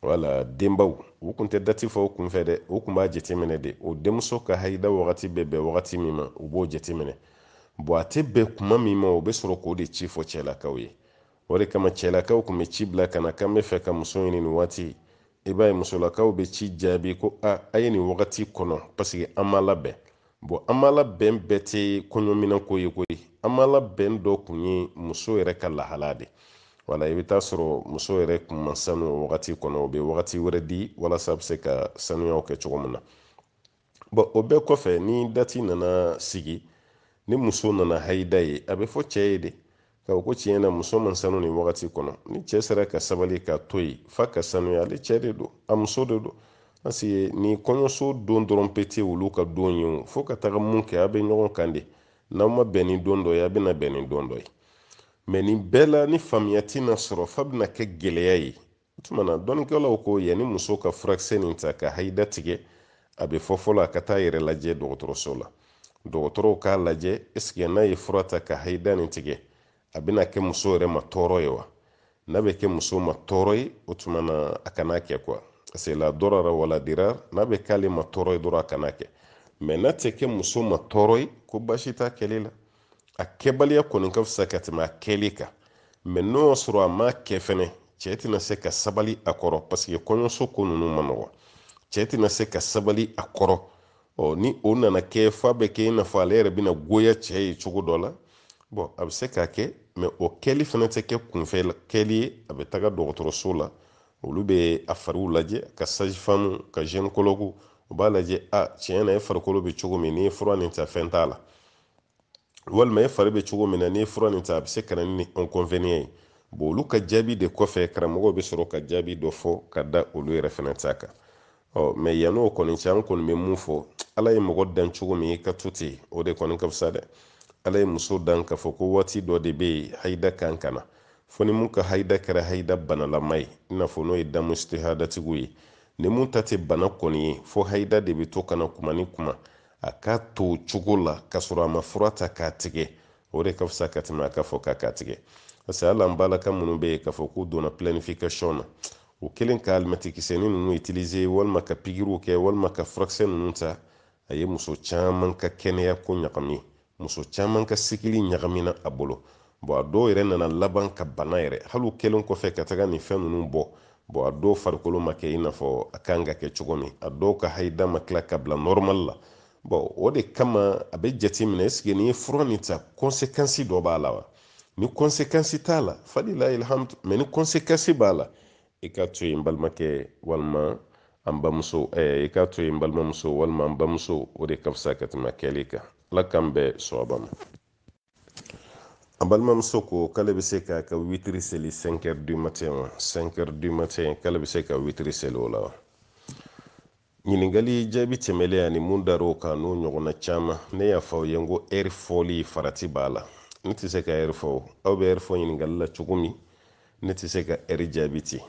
wala denbaw u kun tɛ dati fɔ u kunfɛ dɛ u kun b'a jateminɛ de u denmuso ka hayida wagati bɛ bɛn wagati min ma u b'o jateminɛ bɔn a tɛ bɛn kuma min ma u bɛ sɔrɔ k'o de ci fɔ cɛlakaw ye o de kama cɛlakaw kun bɛ ci bila ka na k'an b'a fɛ ka muso ɲini nin waati i b'a ye musolakaw bɛ ci jaabi ko a a ye nin wagati kɔnɔ paseke an ma labɛn bon an ma labɛn bɛɛ tɛ kɔɲɔminɛnko ye koyi an ma labɛn dɔ kun ye muso yɛrɛ ka lahala de wala i bɛ taa sɔrɔ muso yɛrɛ kun ma sanu o wagati kɔnɔ u bɛ wagati wɛrɛ di walasa a bɛ se ka sanuyaw kɛ cogo min na bɔn o bɛɛ kɔfɛ ni dati nana sigi ni muso nana hayida ye a bɛ fɔ cɛ ye de ka ko tiɲɛ na muso ma sanu nin wagati kɔnɔ ni cɛ sera ka sabali k'a to yen f'a ka sanuya ale cɛ de don a muso de don parce que ni kɔɲɔso don dɔrɔn peut-être olu ka don ye o fo ka taga mun kɛ a bɛ ɲɔgɔn kan de n'a ma bɛn ni don dɔ ye a bɛna bɛn ni don dɔ ye mɛ nin bɛɛ la ni faamuya tɛna sɔrɔ f'a bɛna kɛ gɛlɛya ye o tuma na dɔnnikɛlaw ko yanni muso ka furakisɛ nin ta ka hayida tigɛ a bɛ fɔ fɔlɔ a ka taa yɛrɛ lajɛ dɔgɔtɔrɔso la dɔgɔtɔrɔw k'a lajɛ ɛseke n'a ye fura ta ka hayida nin tigɛ a bɛna kɛ muso yɛrɛ ma tɔɔrɔ ye wa n'a bɛ kɛ muso ma tɔɔrɔ ye o tuma na a kana kɛ kuwa paseke la darara wala dirar n'a bɛ k'ale ma tɔɔrɔ ye dɔrɔn a kana kɛ mɛ n'a tɛ kɛ muso ma tɔɔrɔ ye ko baasi t'a kɛli la a kɛbaliya kɔni ka fisa ka tɛmɛ a kɛli kan mɛ n'o y'a sɔrɔ a ma kɛ fɛnɛ cɛ tɛna se ka sabali a kɔrɔ paseke kɔɲɔso ko ninnu man nɔgɔn cɛ tɛna se ka sabali a kɔrɔ ɔ ni o nana kɛ f'a bɛ kɛ i n'a fɔ ale yɛrɛ bɛna goya cɛ ye cogo dɔ la bɔn a bɛ se k'a kɛ mɛ o kɛli fana tɛ kɛ kunfɛ kɛli ye a bɛ taga dɔgɔtɔrɔso la olu bɛ a fariw lajɛ ka sajifamu ka zɛnikologu u b'a lajɛ a tiɲɛ na e farikolo bɛ cogo min n'i ye fura nin ta fɛn t'a la walima e fari bɛ cogo min na n'i ye fura nin ta a bɛ se ka na ni ɛnkɔnveniyan ye bon olu ka jaabi de kɔfɛ karamɔgɔw bɛ sɔrɔ ka jaabi dɔ fɔ ka da olu yɛrɛ fana ta kan ɔ mɛ yann'o kɔni cɛ an kɔni bɛ mun fɔ ala ye mɔgɔ dan cogo min k'a to ten o de kɔni ka fisa dɛ ala ye muso dan k'a fɔ ko waati dɔ de bɛ yen hayida kan ka na fo ni mun ka hayida kɛra hayida banalama ye i n'a fɔ n'o ye damu istihadatigiw ye ni mun ta tɛ bana kɔni ye fo hayida de bɛ to ka na kuma ni kuma a k'a to cogo la k'a sɔrɔ a ma fura ta k'a tigɛ o de ka fisa ka tɛmɛ a k'a fɔ k'a k'a tigɛ parce que hali an balaka minnu bɛ yen k'a fɔ k'u donna planification na u kɛlen ka alimɛtikisɛni ninnu utiliser walima ka pikiriw kɛ walima ka furakisɛ ninnu ta a ye muso caman ka kɛnɛya ko ɲagami muso caman ka sikili ɲagamina a bolo bɔn a dɔw yɛrɛ nana laban ka bana yɛrɛ hali u kɛlen kɔfɛ ka taga nin fɛn ninnu bɔ bɔn a dɔw farikolo ma kɛ i n'a fɔ a kan ka kɛ cogo min a dɔw ka hayida ma tila ka bila nɔrɔmali la bɔn o de kama a bɛ jateminɛ esike n'i ye fura nin ta kɔnsekansi dɔ b'a la wa ni kɔnsekansi t'a la falilayi alhamdu mɛ ni kɔnsekansi b'a la i k'a to yen n balimakɛ walima an bamuso i k'a to yen n balimamuso walima an bamuso o de ka fisa ka tɛmɛ kɛli kan ala k'an bɛɛ sɔrɔba ma an balimamuso ko k'ale bɛ se k'a ka witiri seli 5 heures du matin wa 5 heures du matin k'ale bɛ se ka witiri seli o la wa Ɲininkali jaabi tɛmɛlen ani mun dar'o kan n'o ɲɔgɔnna caman, ne y'a fɔ aw ye n ko ɛri fɔli farati b'a la. Ne tɛ se ka ɛri fɔ o. Aw bɛ ɛri fɔ ɲininkali la cogo min, ne tɛ se ka ɛri jaabi ten.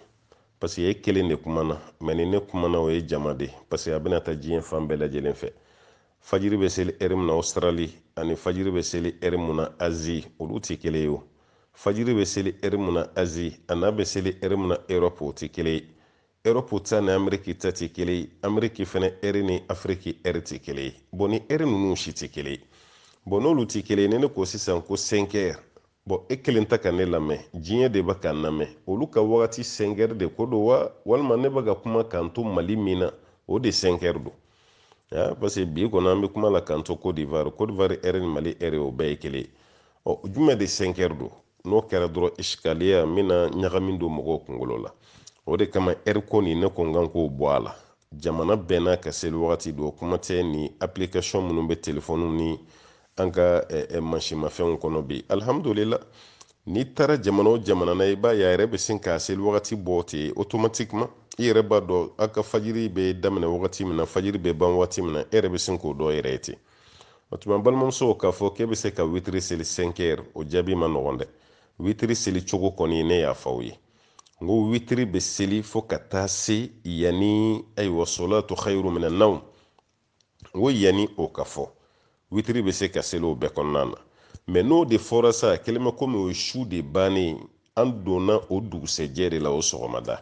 Paseke e kelen de kumana, mɛ ni ne kumana o ye jama de ye, paseke a bɛna taa diɲɛ fan bɛɛ lajɛlen fɛ. Fajiri bɛ seli ɛri min na Ɔsitarali ani fajiri bɛ seli ɛri min na Azi, olu tɛ kelen ye o. Fajiri bɛ seli ɛri min na Azi an'a bɛ seli ɛri min na Erɔpu, o tɛ kelen ye. Europe ta ni Ameriki ta tɛ kelen ye Ameriki fana ɛri ni Afiriki ɛri tɛ kelen ye bon ni ɛri ninnu si tɛ kelen ye bon n'olu tɛ kelen ye ni ne ko sisan ko sɛnkɛri bon e kelen tɛ ka ne lamɛn diɲɛ de bɛ ka n lamɛn olu ka wagati sɛnkɛri de ko don wa walima ne bɛ ka kuma k'an to Mali min na o de sɛnkɛri don parce que bi kɔni an bɛ kuma la k'an to Côte d'Ivoire Côte d'Ivoire ɛri ni Mali ɛri o bɛɛ ye kelen ye ɔ jumɛn de sɛnkɛri don n'o kɛra dɔrɔn isikaliya n bɛna ɲagami don mɔgɔw kunkolo la o de kama ɛri ko nin ne ko n kan k'o bɔ a la jamana bɛɛ n'a ka seli wagati don kuma tɛ ni application minnu bɛ telefɔniw ni an ka mansinmafɛnw kɔnɔ bi alihamudulila n'i taara jamana o jamana na i b'a ye a yɛrɛ bɛ sin k'a seli wagati bɔ ten automatiquement i yɛrɛ b'a dɔn a ka fajiri bɛ daminɛ wagati min na fajiri bɛ ban wagati min na e yɛrɛ bɛ sin k'o dɔn yɛrɛ ye ten o tuma balimamuso k'a fɔ k'e bɛ se ka witiri seli sɛnkɛri o jaabi ma nɔgɔn dɛ witiri seli cogo kɔni ne y'a fɔ aw ye n ko witiri bɛ seli fo ka taa se yanni ayiwa solatu khayru mina nawm n ko yanni o ka fɔ witiri bɛ se ka seli o bɛɛ kɔnɔna na mɛ n'o de fɔra sa kɛlen bɛ komi o ye su de bannen an donna o dugusɛjɛ de la o sɔgɔmada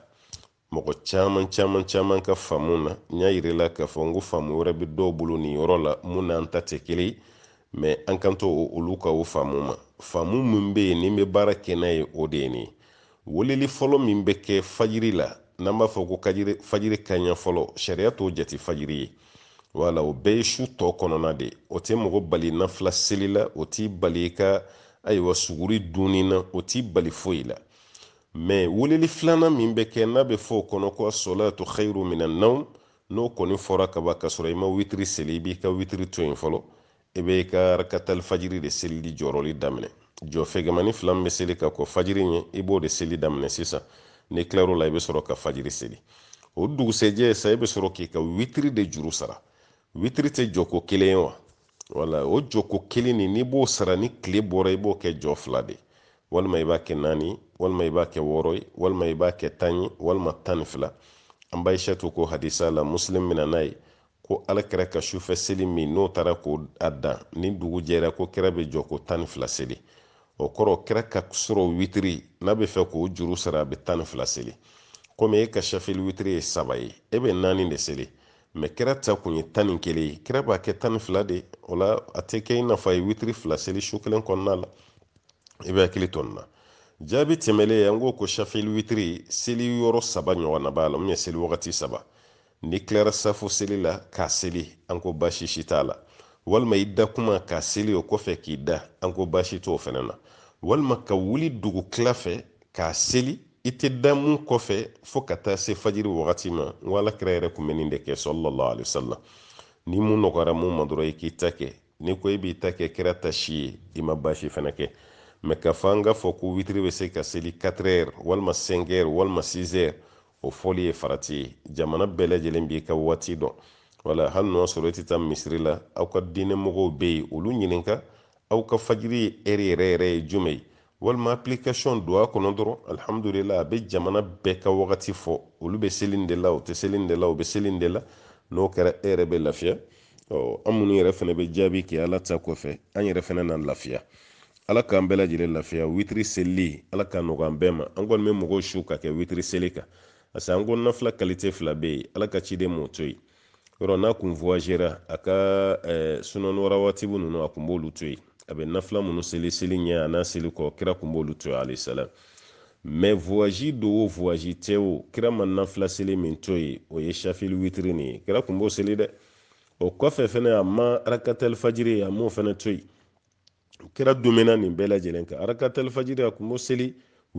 mɔgɔ caman caman caman ka faamu na n y'a yir'i la k'a fɔ n ko faamu wɛrɛ bɛ dɔw bolo nin yɔrɔ la mun n'an ta tɛ kelen ye mɛ an kan to olu ka o faamu ma faamu min bɛ yen ni n bɛ baara kɛ n'a ye o de ye nin ye weleli fɔlɔ min bɛ kɛ fajiri la n'an b'a fɔ ko fajiri kanɲɛ fɔlɔ sariya t'o jate fajiri ye wala o bɛɛ ye su tɔ kɔnɔna de o tɛ mɔgɔ bali nafila seli la o t'i bali i ka ayiwa suguri dunni na o t'i bali foyi la mɛ weleli filanan min bɛ kɛ n'a bɛ fɔ o kɔnɔ ko asolatu khairu mina nawm n'o kɔni fɔra kaban ka sɔrɔ i ma witiri seli i b'i ka witiri to yen fɔlɔ i bɛ i ka rakatali fajiri de selili jɔrɔli daminɛ jɔ fɛgɛmani fila min bɛ seli ka kɔn fajiri ɲɛ i b'o de seli daminɛ sisan n'i tilar'o la i bɛ sɔrɔ ka fajiri seli o dugusɛjɛ sa i bɛ sɔrɔ k'i ka witiri de juru sara witiri tɛ jɔko kelen ye wa wala o jɔko kelen nin n'i b'o sara ni tile bɔra i b'o kɛ jɔ fila de walima i b'a kɛ naani walima i b'a kɛ wɔɔrɔ ye walima i b'a kɛ tan ye walima tan ni fila an ba aishatu ko hadisa la muslim bɛ na n'a ye ko alakira ka sufɛ seli min n'o taara ko a dan ni dugu jɛra ko kira bɛ jɔ ko tan ni fila seli o kɔrɔ kira ka surɔ witiri n'a bɛ fɛ k'o juru sara a bɛ tan ni fila seli komi e ka shafili witiri ye saba ye e bɛ naani de seli mais kira ta kun ye tan ni kelen ye kira b'a kɛ tan ni fila de o la a tɛ kɛ i n'a fɔ a ye witiri fila seli su kelen kɔnɔna la i b'i hakili to nin na jaabi tɛmɛlen ye an ko ko shafili witiri seli yɔrɔ saba ɲɔgɔnna b'a la min ye seli wagati saba n'i tilara safo seli la k'a seli an ko baasi si t'a la walima i da kuma k'a seli o kɔfɛ k'i da an ko baasi t'o fana na walima ka wuli dugu tila fɛ k'a seli i tɛ da mun kɔfɛ fo ka taa se fajiri wagati ma n ko alakira yɛrɛ kun bɛ nin de kɛ sallallahu alaihi wasallam ni mun nɔgɔyara mun ma dɔrɔn i k'i ta kɛ n'i ko i b'i ta kɛ kira ta si ye i ma baasi fana kɛ mais ka fɔ an ka fɔ ko witiri bɛ se ka seli 4 heures walima 5 heures walima 6 heures o fɔli ye farati ye jamana bɛɛ lajɛlen b'i ka waati dɔn wala hali n'o sɔrɔ i tɛ taa misiri la aw ka diinɛ mɔgɔw bɛ yen olu ɲininka aw ka fajiri heure yɛrɛ yɛrɛ ye jumɛn ye walima application don a kɔnɔ dɔrɔn alhamdulillah a bɛ jamana bɛɛ ka wagati fɔ olu bɛ seli nin de la u tɛ seli nin de la u bɛ seli nin de la n'o kɛra e yɛrɛ bɛ lafiya ɔ an minnu yɛrɛ fana bɛ jaabi kɛ ala ta kɔfɛ an yɛrɛ fana na lafiya ala k'an bɛɛ lajɛlen lafiya witiri seli ala k'a nɔgɔya an bɛɛ ma an kɔni bɛ mɔgɔw su ka kɛ witiri seli kan parce que an ko nafila qualité fila bɛ yen ala ka ciden m'o to yen yɔrɔ n'a kun voyagera a ka eh, sunɔni wa rawatibu ninnu a kun b'olu to yen a bɛ nafila minnu seli seli ɲɛ a n'a seli kɔ kira kun b'olu to yen alayhi salam mais voyage don o voyage tɛ o kira ma nafila seli min to yen o ye shafili witiri nin ye kira kun b'o seli dɛ o kɔfɛ fɛnɛ a ma arakatal fajiri a m'o fɛnɛ to yen kira dumɛna nin bɛɛ lajɛlen kan arakatal fajiri a kun b'o seli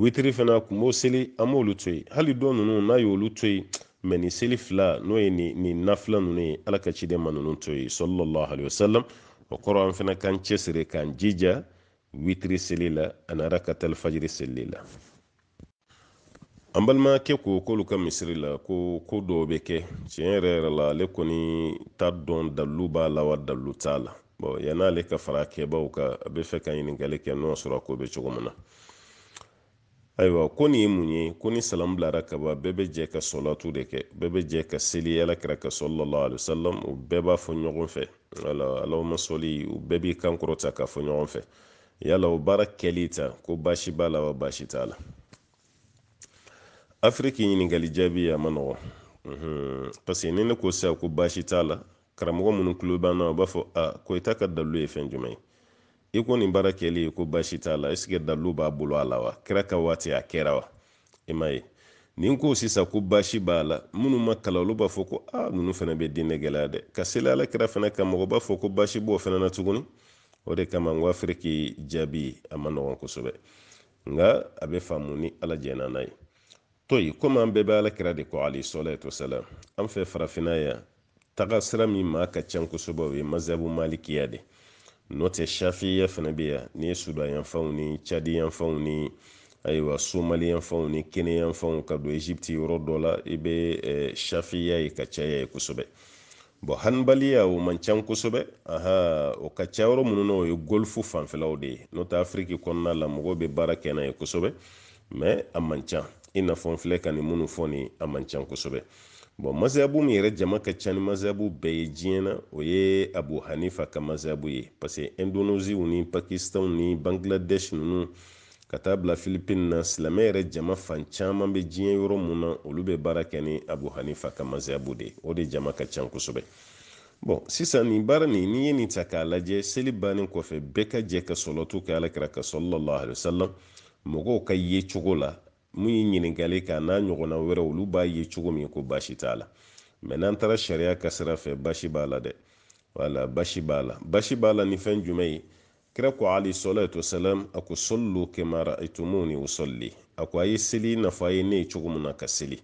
witiri fana a kun b'o seli a m'olu to yen hali dɔ ninnu n'a y'olu to yen mais nin seli fila n'o ye nin nafila ninnu ye ala ka ciden ma ninnu to yen sallallahu alaihi wasallam o kɔrɔ an fana k'an cɛsiri k'an jija witiri seli la ani arakatal fajiri seli la an balimakɛ ko k'olu ka misiri la ko ko dɔw bɛ kɛ tiɲɛ yɛrɛ yɛrɛ la ale kɔni t'a dɔn dalilu b'a la wa dalilu t'a la bon yan'ale ka fara kɛbaw kan a bɛ fɛ ka ɲininkali kɛ n'o sɔrɔ a ko bɛ cogo min na ayiwa ko nin ye mun ye ko ni salamu bilara ka ban bɛɛ bɛ jɛ ka sɔlatu de kɛ bɛɛ bɛ jɛ ka seli alakira kan sallallahu alaihi wasallam u bɛɛ b'a fɔ ɲɔgɔn fɛ wala allahumma sɔli u bɛɛ b'i kan kɔrɔta k'a fɔ ɲɔgɔn fɛ yala o baara kɛli ta ko baasi b'a la wa baasi t'a la afiriki ɲininkali jaabi a man nɔgɔn parce que ni ne ko sisan ko baasi t'a la karamɔgɔ minnu tulo b'an na u b'a fɔ a ko i ta ka dalilu ye fɛn jumɛn ye i ko nin baara kɛli ye ko baasi t'a la est ce que dalilu b'a bolo a la wa kira ka waati a kɛra wa i m'a ye ni n ko sisan ko baasi b'a la minnu ma kalan olu b'a fɔ ko a ah, ninnu fɛnɛ bɛ diinɛ gɛlɛya dɛ ka seli ala kira fana kan mɔgɔ b'a fɔ ko baasi b'o fɛnɛ na tuguni o de kama n ko afiriki jaabi a man nɔgɔn kosɛbɛ nka a bɛ faamu ni ala jɛnna n'a ye to yen komi an bɛɛ bɛ ala kira de kɔ alayhi salatu wasalam an fɛ farafinna yan taga sira min maa ka ca kosɛbɛ o ye mazabu malikiya de n'o tɛ shafiya fana bɛ yan ni sudan yanfanw ni cadi yanfanw ni ayiwa somali yanfanw ni kenya yanfanw ka don egypte yɔrɔ dɔ la i bɛ eh, shafiya ye ka caya yen kosɛbɛ bon hanbaliya o man ca kosɛbɛ aha o ka ca yɔrɔ minnu na o ye golfu fanfɛlaw de ye n'o tɛ afiriki kɔnɔna la mɔgɔw bɛ baara kɛ n'a ye kosɛbɛ mais a man ca i n'a fɔ n filɛ ka nin minnu fɔ nin a man ca kosɛbɛ bon mazabu min yɛrɛ jama ka ca ni mazabu bɛɛ ye diɲɛ na o ye abu hanifa ka mazabu ye parce que indonésie ni pakistan ni bangladesh ninnu ka taa bila philippines na silamɛ yɛrɛ jama fan caman bɛ diɲɛ yɔrɔ min na olu bɛ baara kɛ ni abu hanifa ka mazabu de o de jama ka ca kosɛbɛ bon sisan nin baara nin n'i ye nin ta k'a lajɛ seli bannen kɔfɛ bɛɛ ka jɛ ka salatu kɛ alakira kan sallallahu alaihi wasallam mɔgɔw ka yecogo la min ye ɲininkali kɛ n'a ɲɔgɔnna wɛrɛ olu b'a ye cogo min ko baasi t'a la mais n'an taara sariya ka sira fɛ baasi b'a la dɛ wala baasi b'a la baasi b'a la ni fɛn jumɛn ye kira ko alayhi salatu wasalam a ko sallu kama ra'aytumuni usalli a ko a ye seli i n'a fɔ a ye ne ye cogo min na ka seli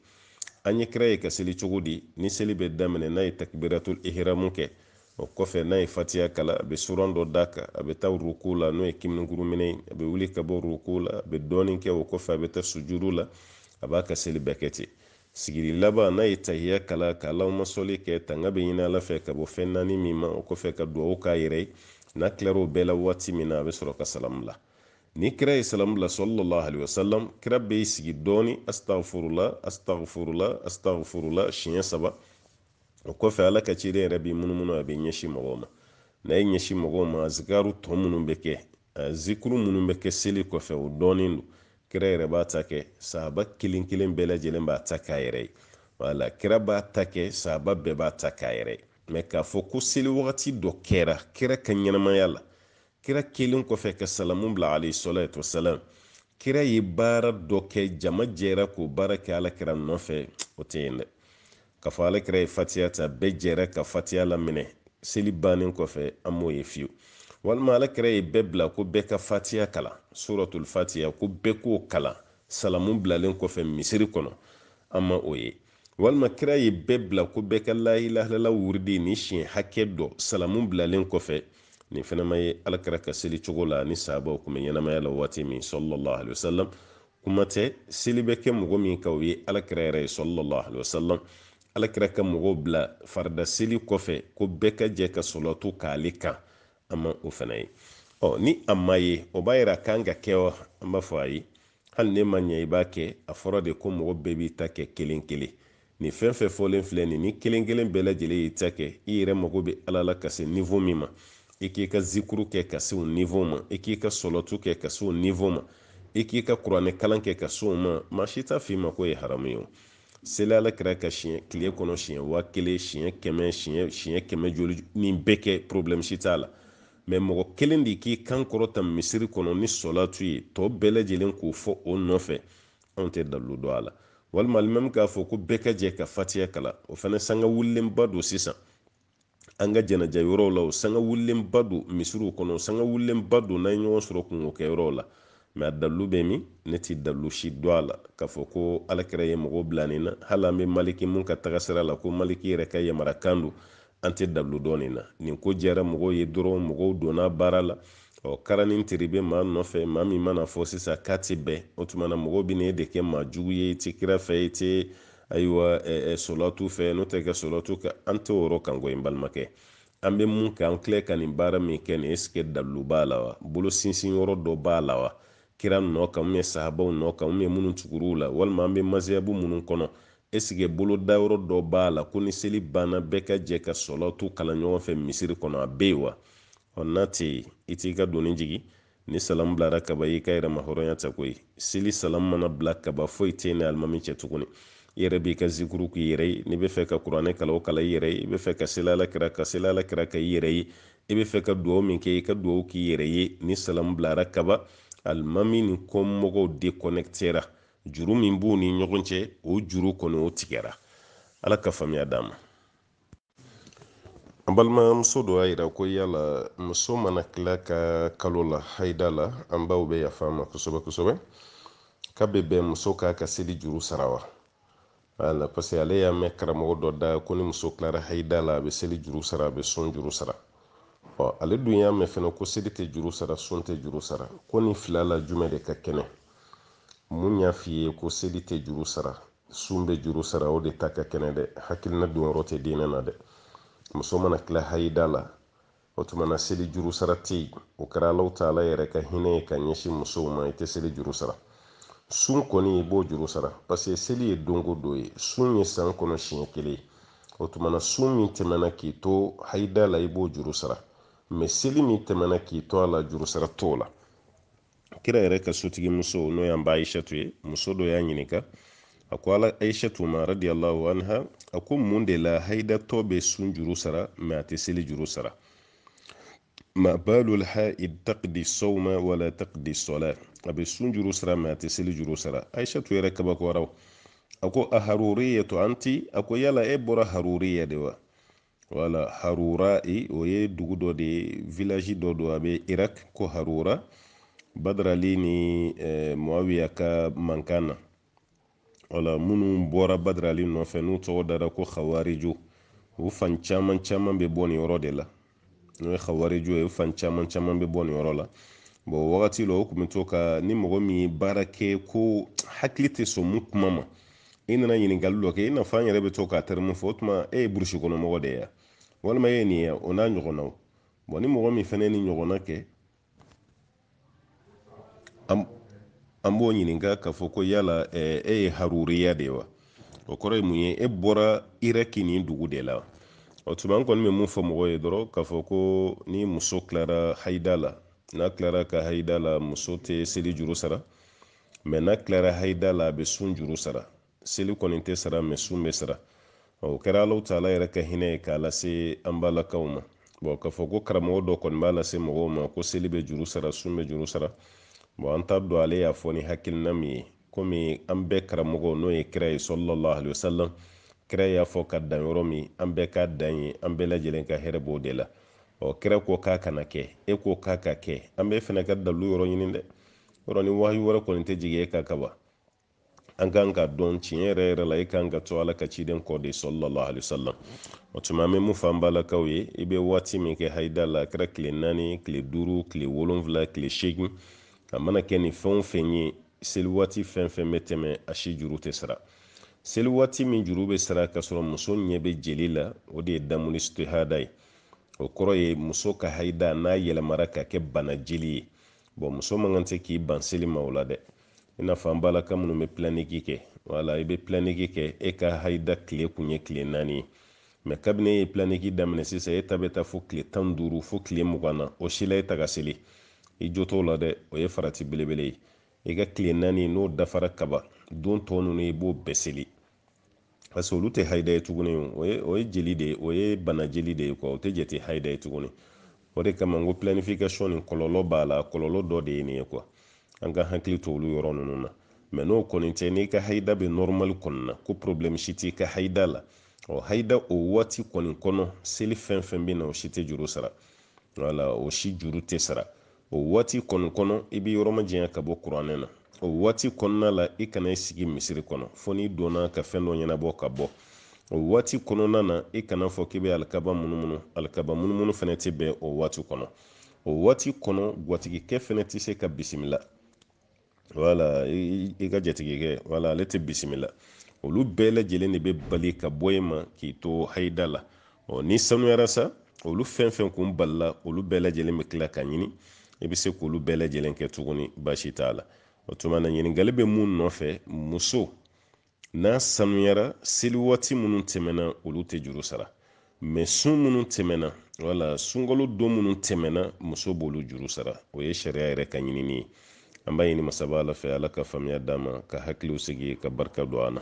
an ye kira ye ka seli cogo di ni seli bɛ daminɛ n'a ye takbiratul ihramu kɛ o kɔfɛ n'a ye fatiha kalan a bɛ suran dɔ d'a kan a bɛ taa ruku la n'o ye kiminkuru minɛ ye a bɛ wuli ka bɔ ruku la a bɛ dɔɔni kɛ o kɔfɛ a bɛ taa sujudu la a b'a ka seli bɛɛ kɛ ten sigili laban n'a ye tahiya kalan ka allahumma salli kɛ tanga bɛ ɲini ala fɛ ka bɔ fɛn naani min ma o kɔfɛ ka duwawu k'a yɛrɛ ye n'a tilara o bɛɛ la waati min na a bɛ sɔrɔ ka salamu bila ni kira ye salamu bila sallallahu alaihi wasallam kira bɛ sigi dɔɔni astaghfirullah astaghfirullah astaghfirullah siɲɛ saba o kɔfɛ ala ka ciden yɛrɛ bɛ munumunu a b'i ɲɛsin mɔgɔw ma n'a y'i ɲɛsin mɔgɔw ma azikaru tɔ minnu bɛ kɛ zikuru minnu bɛ kɛ seli kɔfɛ o dɔnnen don kira yɛrɛ b'a ta kɛ sahaba kelen kelen bɛɛ lajɛlen b'a ta k'a yɛrɛ ye wala kira b'a ta kɛ sahaba bɛɛ b'a ta k'a yɛrɛ ye mais k'a fɔ ko seli wagati dɔ kɛra kira ka ɲɛnamaya la kira kɛlen kɔfɛ ka salamu bila alayhi salatu wasalam kira ye baara dɔ kɛ jama jɛra k'o baara kɛ ala kira nɔfɛ o tɛ yen dɛ k'a fɔ alakira ye fatiya ta bɛɛ jɛra ka fatiya laminɛ seli bannen kɔfɛ an m'o ye fiyewu walima alakira ye bɛɛ bila ko bɛɛ ka fatiya kalan suratul fatiya ko bɛɛ k'o kalan salamu bilalen kɔfɛ misiri kɔnɔ an ma o ye walima kira ye bɛɛ bila ko bɛɛ ka la ilaha illallah wuridi ni siɲɛ hakɛ dɔ salamu bilalen kɔfɛ nin fɛnɛ ma ye alakira ka seli cogo la ni sahabaw kun bɛ ɲɛnamaya la waati min sallallahu alaihi wasallam kuma tɛ seli bɛ kɛ mɔgɔ min kan o ye alakira yɛrɛ ye sallallahu alaihi wasallam alakira ka mɔgɔw bila farida seli kɔfɛ ko bɛɛ ka jɛ ka sɔlɔtu k'ale kan an ma o fana ye ɔ ni a ma ye o b'a yira k'an k'a kɛ wa an b'a fɔ ayi hali n'e ma ɲɛ i b'a kɛ a fɔra de ko mɔgɔ bɛɛ b'i ta kɛ kelen kelen Nin fɛn fɛn fɔlen filɛ nin ni kelen kelen bɛɛ lajɛlen y'i ta kɛ, i yɛrɛ mago bɛ Ala la ka se niveau min ma, i k'i ka zikuru kɛ ka se o niveau ma, i k'i ka sɔlɔtu kɛ ka se o niveau ma, i k'i ka kuranɛ kalan kɛ ka se o ma, maa si t'a fɔ i ma k'o ye haramu ye o. Seli Alakira kan siɲɛ tile kɔnɔ siɲɛ waa kelen, siɲɛ kɛmɛ, siɲɛ siɲɛ kɛmɛ joli, nin bɛɛ kɛ problème si t'a la. Mais mɔgɔ kelen de k'i kan kɔrɔta misiri kɔnɔ ni sɔlatu ye, tɔ bɛɛ lajɛlen k'o fɔ o nɔfɛ, anw tɛ dalilu dɔn a la walima alimami k'a fɔ ko bɛɛ ka jɛ ka fatiya kalan o fana sanga wulilenba don sisan an ka jɛnɛja yɔrɔw la o sanga wulilenba don misiriw kɔnɔ sanga wulilenba don n'an ye ɲɔgɔn sɔrɔ kunko kɛ yɔrɔw la mais a dalilu bɛ min ne tɛ dalilu si dɔn a la k'a fɔ ko alakira ye mɔgɔw bila nin na hali an bɛ maliki mun ka tagasira la ko maliki yɛrɛ ka yamarakan don an tɛ dalu dɔn nin na nin ko diyara mɔgɔw ye dɔrɔn mɔgɔw donna baara la ɔ kara ni tere bɛ maa nɔfɛ maa min man'a fɔ sisan k'a tɛ bɛn o tuma na mɔgɔw bɛ na e de kɛ maa jugu ye i tɛ kira fɛ i tɛ ayiwa solatu fɛ n'o tɛ kɛ solatu kɛ an tɛ o yɔrɔ kan koyi n balimakɛ an bɛ mun kɛ an filɛ ka nin baara min kɛ nin est-ce que dalu b'a la wa bolo sinsin yɔrɔ dɔ b'a la wa kira nɔ kan ou bien sahabaw nɔ kan ou bien minnu tugur'u la walima an bɛ maziyabu minnu kɔnɔ Est-ce que bolodayɔrɔ dɔ b'a la ko ni seli banna bɛɛ ka jɛ ka sɔlatu kalan ɲɔgɔn fɛ misiri kɔnɔ? A bɛ yen wa? Ɔ n'a tɛ yen, i t'i ka doni jigi. Ni salamu bilara kaba, i y'i ka yɛrɛmahɔrɔnya ta koyi. Seli salamu mana bila kaba, foyi tɛ i ni alimami cɛ tuguni. I yɛrɛ b'i ka zikuru k'i yɛrɛ ye. N'i bɛ fɛ ka kuranɛ kalan, o kalan i yɛrɛ ye. I bɛ fɛ ka seli Alakira kan, seli Alakira kan i yɛrɛ ye. I bɛ fɛ ka duwawu min kɛ, i ka duwawu k'i yɛrɛ ye. Ni salamu bilara kaba, alimami ni kɔmɔgɔw dekonɛkitera. juru min b'u ni ɲɔgɔn cɛ o juru kɔni o tigɛra ala ka faamuya d'an ma an balimamuso dɔ y'a yira ko yala muso mana til'a ka kalola haida la an baw bɛ yaf'an ma kosɛbɛ kosɛbɛ k'a bɛ bɛn muso k'a ka seli juru sara wa wala parce que ale y'a mɛn karamɔgɔ dɔ da ko ni muso tilara hayida la a bɛ seli juru sara a bɛ sun juru sara ɔ ale dun y'a mɛn fɛnɛ ko seli tɛ juru sara sun tɛ juru sara ko nin fila la jumɛn de ka kɛnɛ min y'a f'i ye ko seli tɛ juru sara sun bɛ juru sara o de ta ka kɛnɛ dɛ hakilina donyɔrɔ tɛ diinɛ na dɛ muso mana tila hayida la o tuma na seli juru sara tɛ yen o kɛra alahu taala yɛrɛ ka hinɛ ye ka ɲɛsin musow ma i tɛ seli juru sara sun kɔni i b'o juru sara paseke seli ye don o don ye sun ye san kɔnɔ siɲɛ kelen ye o tuma na sun min tɛmɛna k'i to hayida la i b'o juru sara mɛ seli min tɛmɛna k'i to a la juru sara t'o la kira yɛrɛ ka sotigi muso n'o y'an ba aishatu ye muso dɔ y'a ɲininka a ko ala aishatu ma radiyallahu anha a ko mun de la haidatɔ bɛ sun juru sara mɛ a tɛ seli juru sara ma balul haid taqdi sawma wala taqdi sala a bɛ sun juru sara mɛ a tɛ seli juru sara aishatu yɛrɛ kabakoyara a ko a haruriyatu anti a ko yala e bɔra haruriya de wa wala harura e o ye dugu dɔ de ye village dɔ don a bɛ irak ko harura badrali ni eh, muawiya ka mankan na wala minnu bɔra badrali nɔfɛ n'u tɔgɔ dara ko khawariju u fan caman caman bɛ bɔ nin yɔrɔ de la n'o ye khawariju ye u fan caman caman bɛ bɔ nin yɔrɔ la bɔn wagati la o tun bɛ to ka ni mɔgɔ min ye baara kɛ ko hakili tɛ sɔn min kuma ma i nana ɲininkali dɔ kɛ i n'a fɔ an yɛrɛ bɛ to k'a tɛrɛmu fɔ o tuma e ye burusi kɔnɔ mɔgɔ de ye walima e ye nin ye o n'a ɲɔgɔnnaw bɔn ni mɔgɔ min fana ye nin ɲɔgɔnna kɛ an b'o ɲininka k'a fɔ ko yala e ye haruriya de ye wa o kɔrɔ ye mun ye e bɔra iraki nin dugu de la o tuma an kɔni bɛ mun fɔ mɔgɔw ye dɔrɔn k'a fɔ ko ni muso tilara hayida la n'a tilara ka hayida la muso tɛ seli juru sara mɛ n'a tilara haida la a bɛ sun juru sara seli kɔni tɛ sara mɛ sun bɛ sara o kɛra alahu taala yɛrɛ ka hinɛ ye k'a lase an balakaw ma bɔn k'a fɔ ko karamɔgɔ dɔ kɔni b'a lase mɔgɔw ma ko seli bɛ juru sara sun bɛ juru sara bɔn an t'a dɔn ale y'a fɔ ni hakilina min ye komi an bɛɛ karamɔgɔ n'o ye kira ye sallallahu alayhi wa sallam kira y'a fɔ ka dan yɔrɔ min an bɛɛ ka dan yen an bɛɛ lajɛlen ka hɛrɛ b'o de la ɔ kira ko k'a kana kɛ e ko k'a ka kɛ an bɛɛ fana ka dalu yɔrɔ ɲini dɛ yɔrɔ ni wahayu wɛrɛ kɔni tɛ jigin e kan ka ban an kan k'a dɔn tiɲɛ yɛrɛ yɛrɛ la e kan ka to ala ka ciden kɔ de sallallahu alayhi wa sallam o tuma an bɛ mun fɔ an balakaw ye i bɛ waati min kɛ hayida la a kɛra tile naani tile duuru tile wolonfila tile seegin a mana kɛ nin fɛn o fɛn ye seli waati fɛn fɛn bɛ tɛmɛ a si juru tɛ sara seli waati min juru bɛ sara ka sɔrɔ muso ɲɛ bɛ jeli la o de ye damul istihada ye o kɔrɔ ye muso ka hayida n'a yɛlɛmara ka kɛ bana jeli ye bɔn muso man kan tɛ k'i ban seli ma o la dɛ i n'a fɔ an balaka minnu bɛ pilaniki kɛ wala i bɛ pilaniki kɛ e ka hayida tile kun ye tile naani ye mɛ kabini e ye pilaniki daminɛ sisan e ta bɛ taa fo tile tan duuru fo tile mugan na o si la e tɛ ka seli i jo t'o la dɛ o ye farati belebele ye i ka tile naani n'o dafara kaban don tɔ ninnu i b'o bɛɛ seli parce que olu tɛ hayida ye tuguni o ye o ye jeli de ye o ye bana jeli de ye kuwa o tɛ jate hayida ye tuguni o de kama n ko planification nin kɔlɔlɔ b'a la kɔlɔlɔ dɔ de ye nin ye kuwa an ka hakili to olu yɔrɔ ninnu na mɛ n'o kɔni tɛ n'i ka hayida bɛ nɔrɔmali kɔni na ko problɛmu si t'i ka hayida la ɔ hayida o waati kɔni kɔnɔ seli fɛn fɛn bɛ na o si tɛ juru sara wala o si juru tɛ sara o waati kɔni kɔnɔ i bɛ yɔrɔ majanya ka bɔ kuranɛ na o waati kɔnɔna la i kana i sigi misiri kɔnɔ fo n'i donna ka fɛn dɔ ɲɛnabɔ ka bɔ o waati kɔnɔna na i kana fɔ k'i bɛ alikaba munumunu alikaba munumunu fana tɛ bɛn o waati kɔnɔ o waati kɔnɔ gwatigikɛ fana tɛ se ka bisimila wala i ka jatigikɛ wala ale tɛ bisimila olu bɛɛ lajɛlen de bɛ bali ka bɔ i ma k'i to hayida la ɔ n'i sanuyara sa olu fɛn fɛn kun balila olu bɛɛ lajɛlen bɛ tila ka ɲini i bɛ se k'olu bɛɛ lajɛlen kɛ tuguni baasi t'a la o tuma na ɲininkali bɛ mun nɔfɛ muso n'a sanuyara seli waati minnu tɛmɛna olu tɛ juru sara mɛ sun minnu tɛmɛna wala sunkalo don minnu tɛmɛna muso b'olu juru sara o ye sariya yɛrɛ ka ɲinini ye an b'a ɲini masaba ala fɛ ala ka faamuya d'an ma ka hakiliw sigi ka barika don an na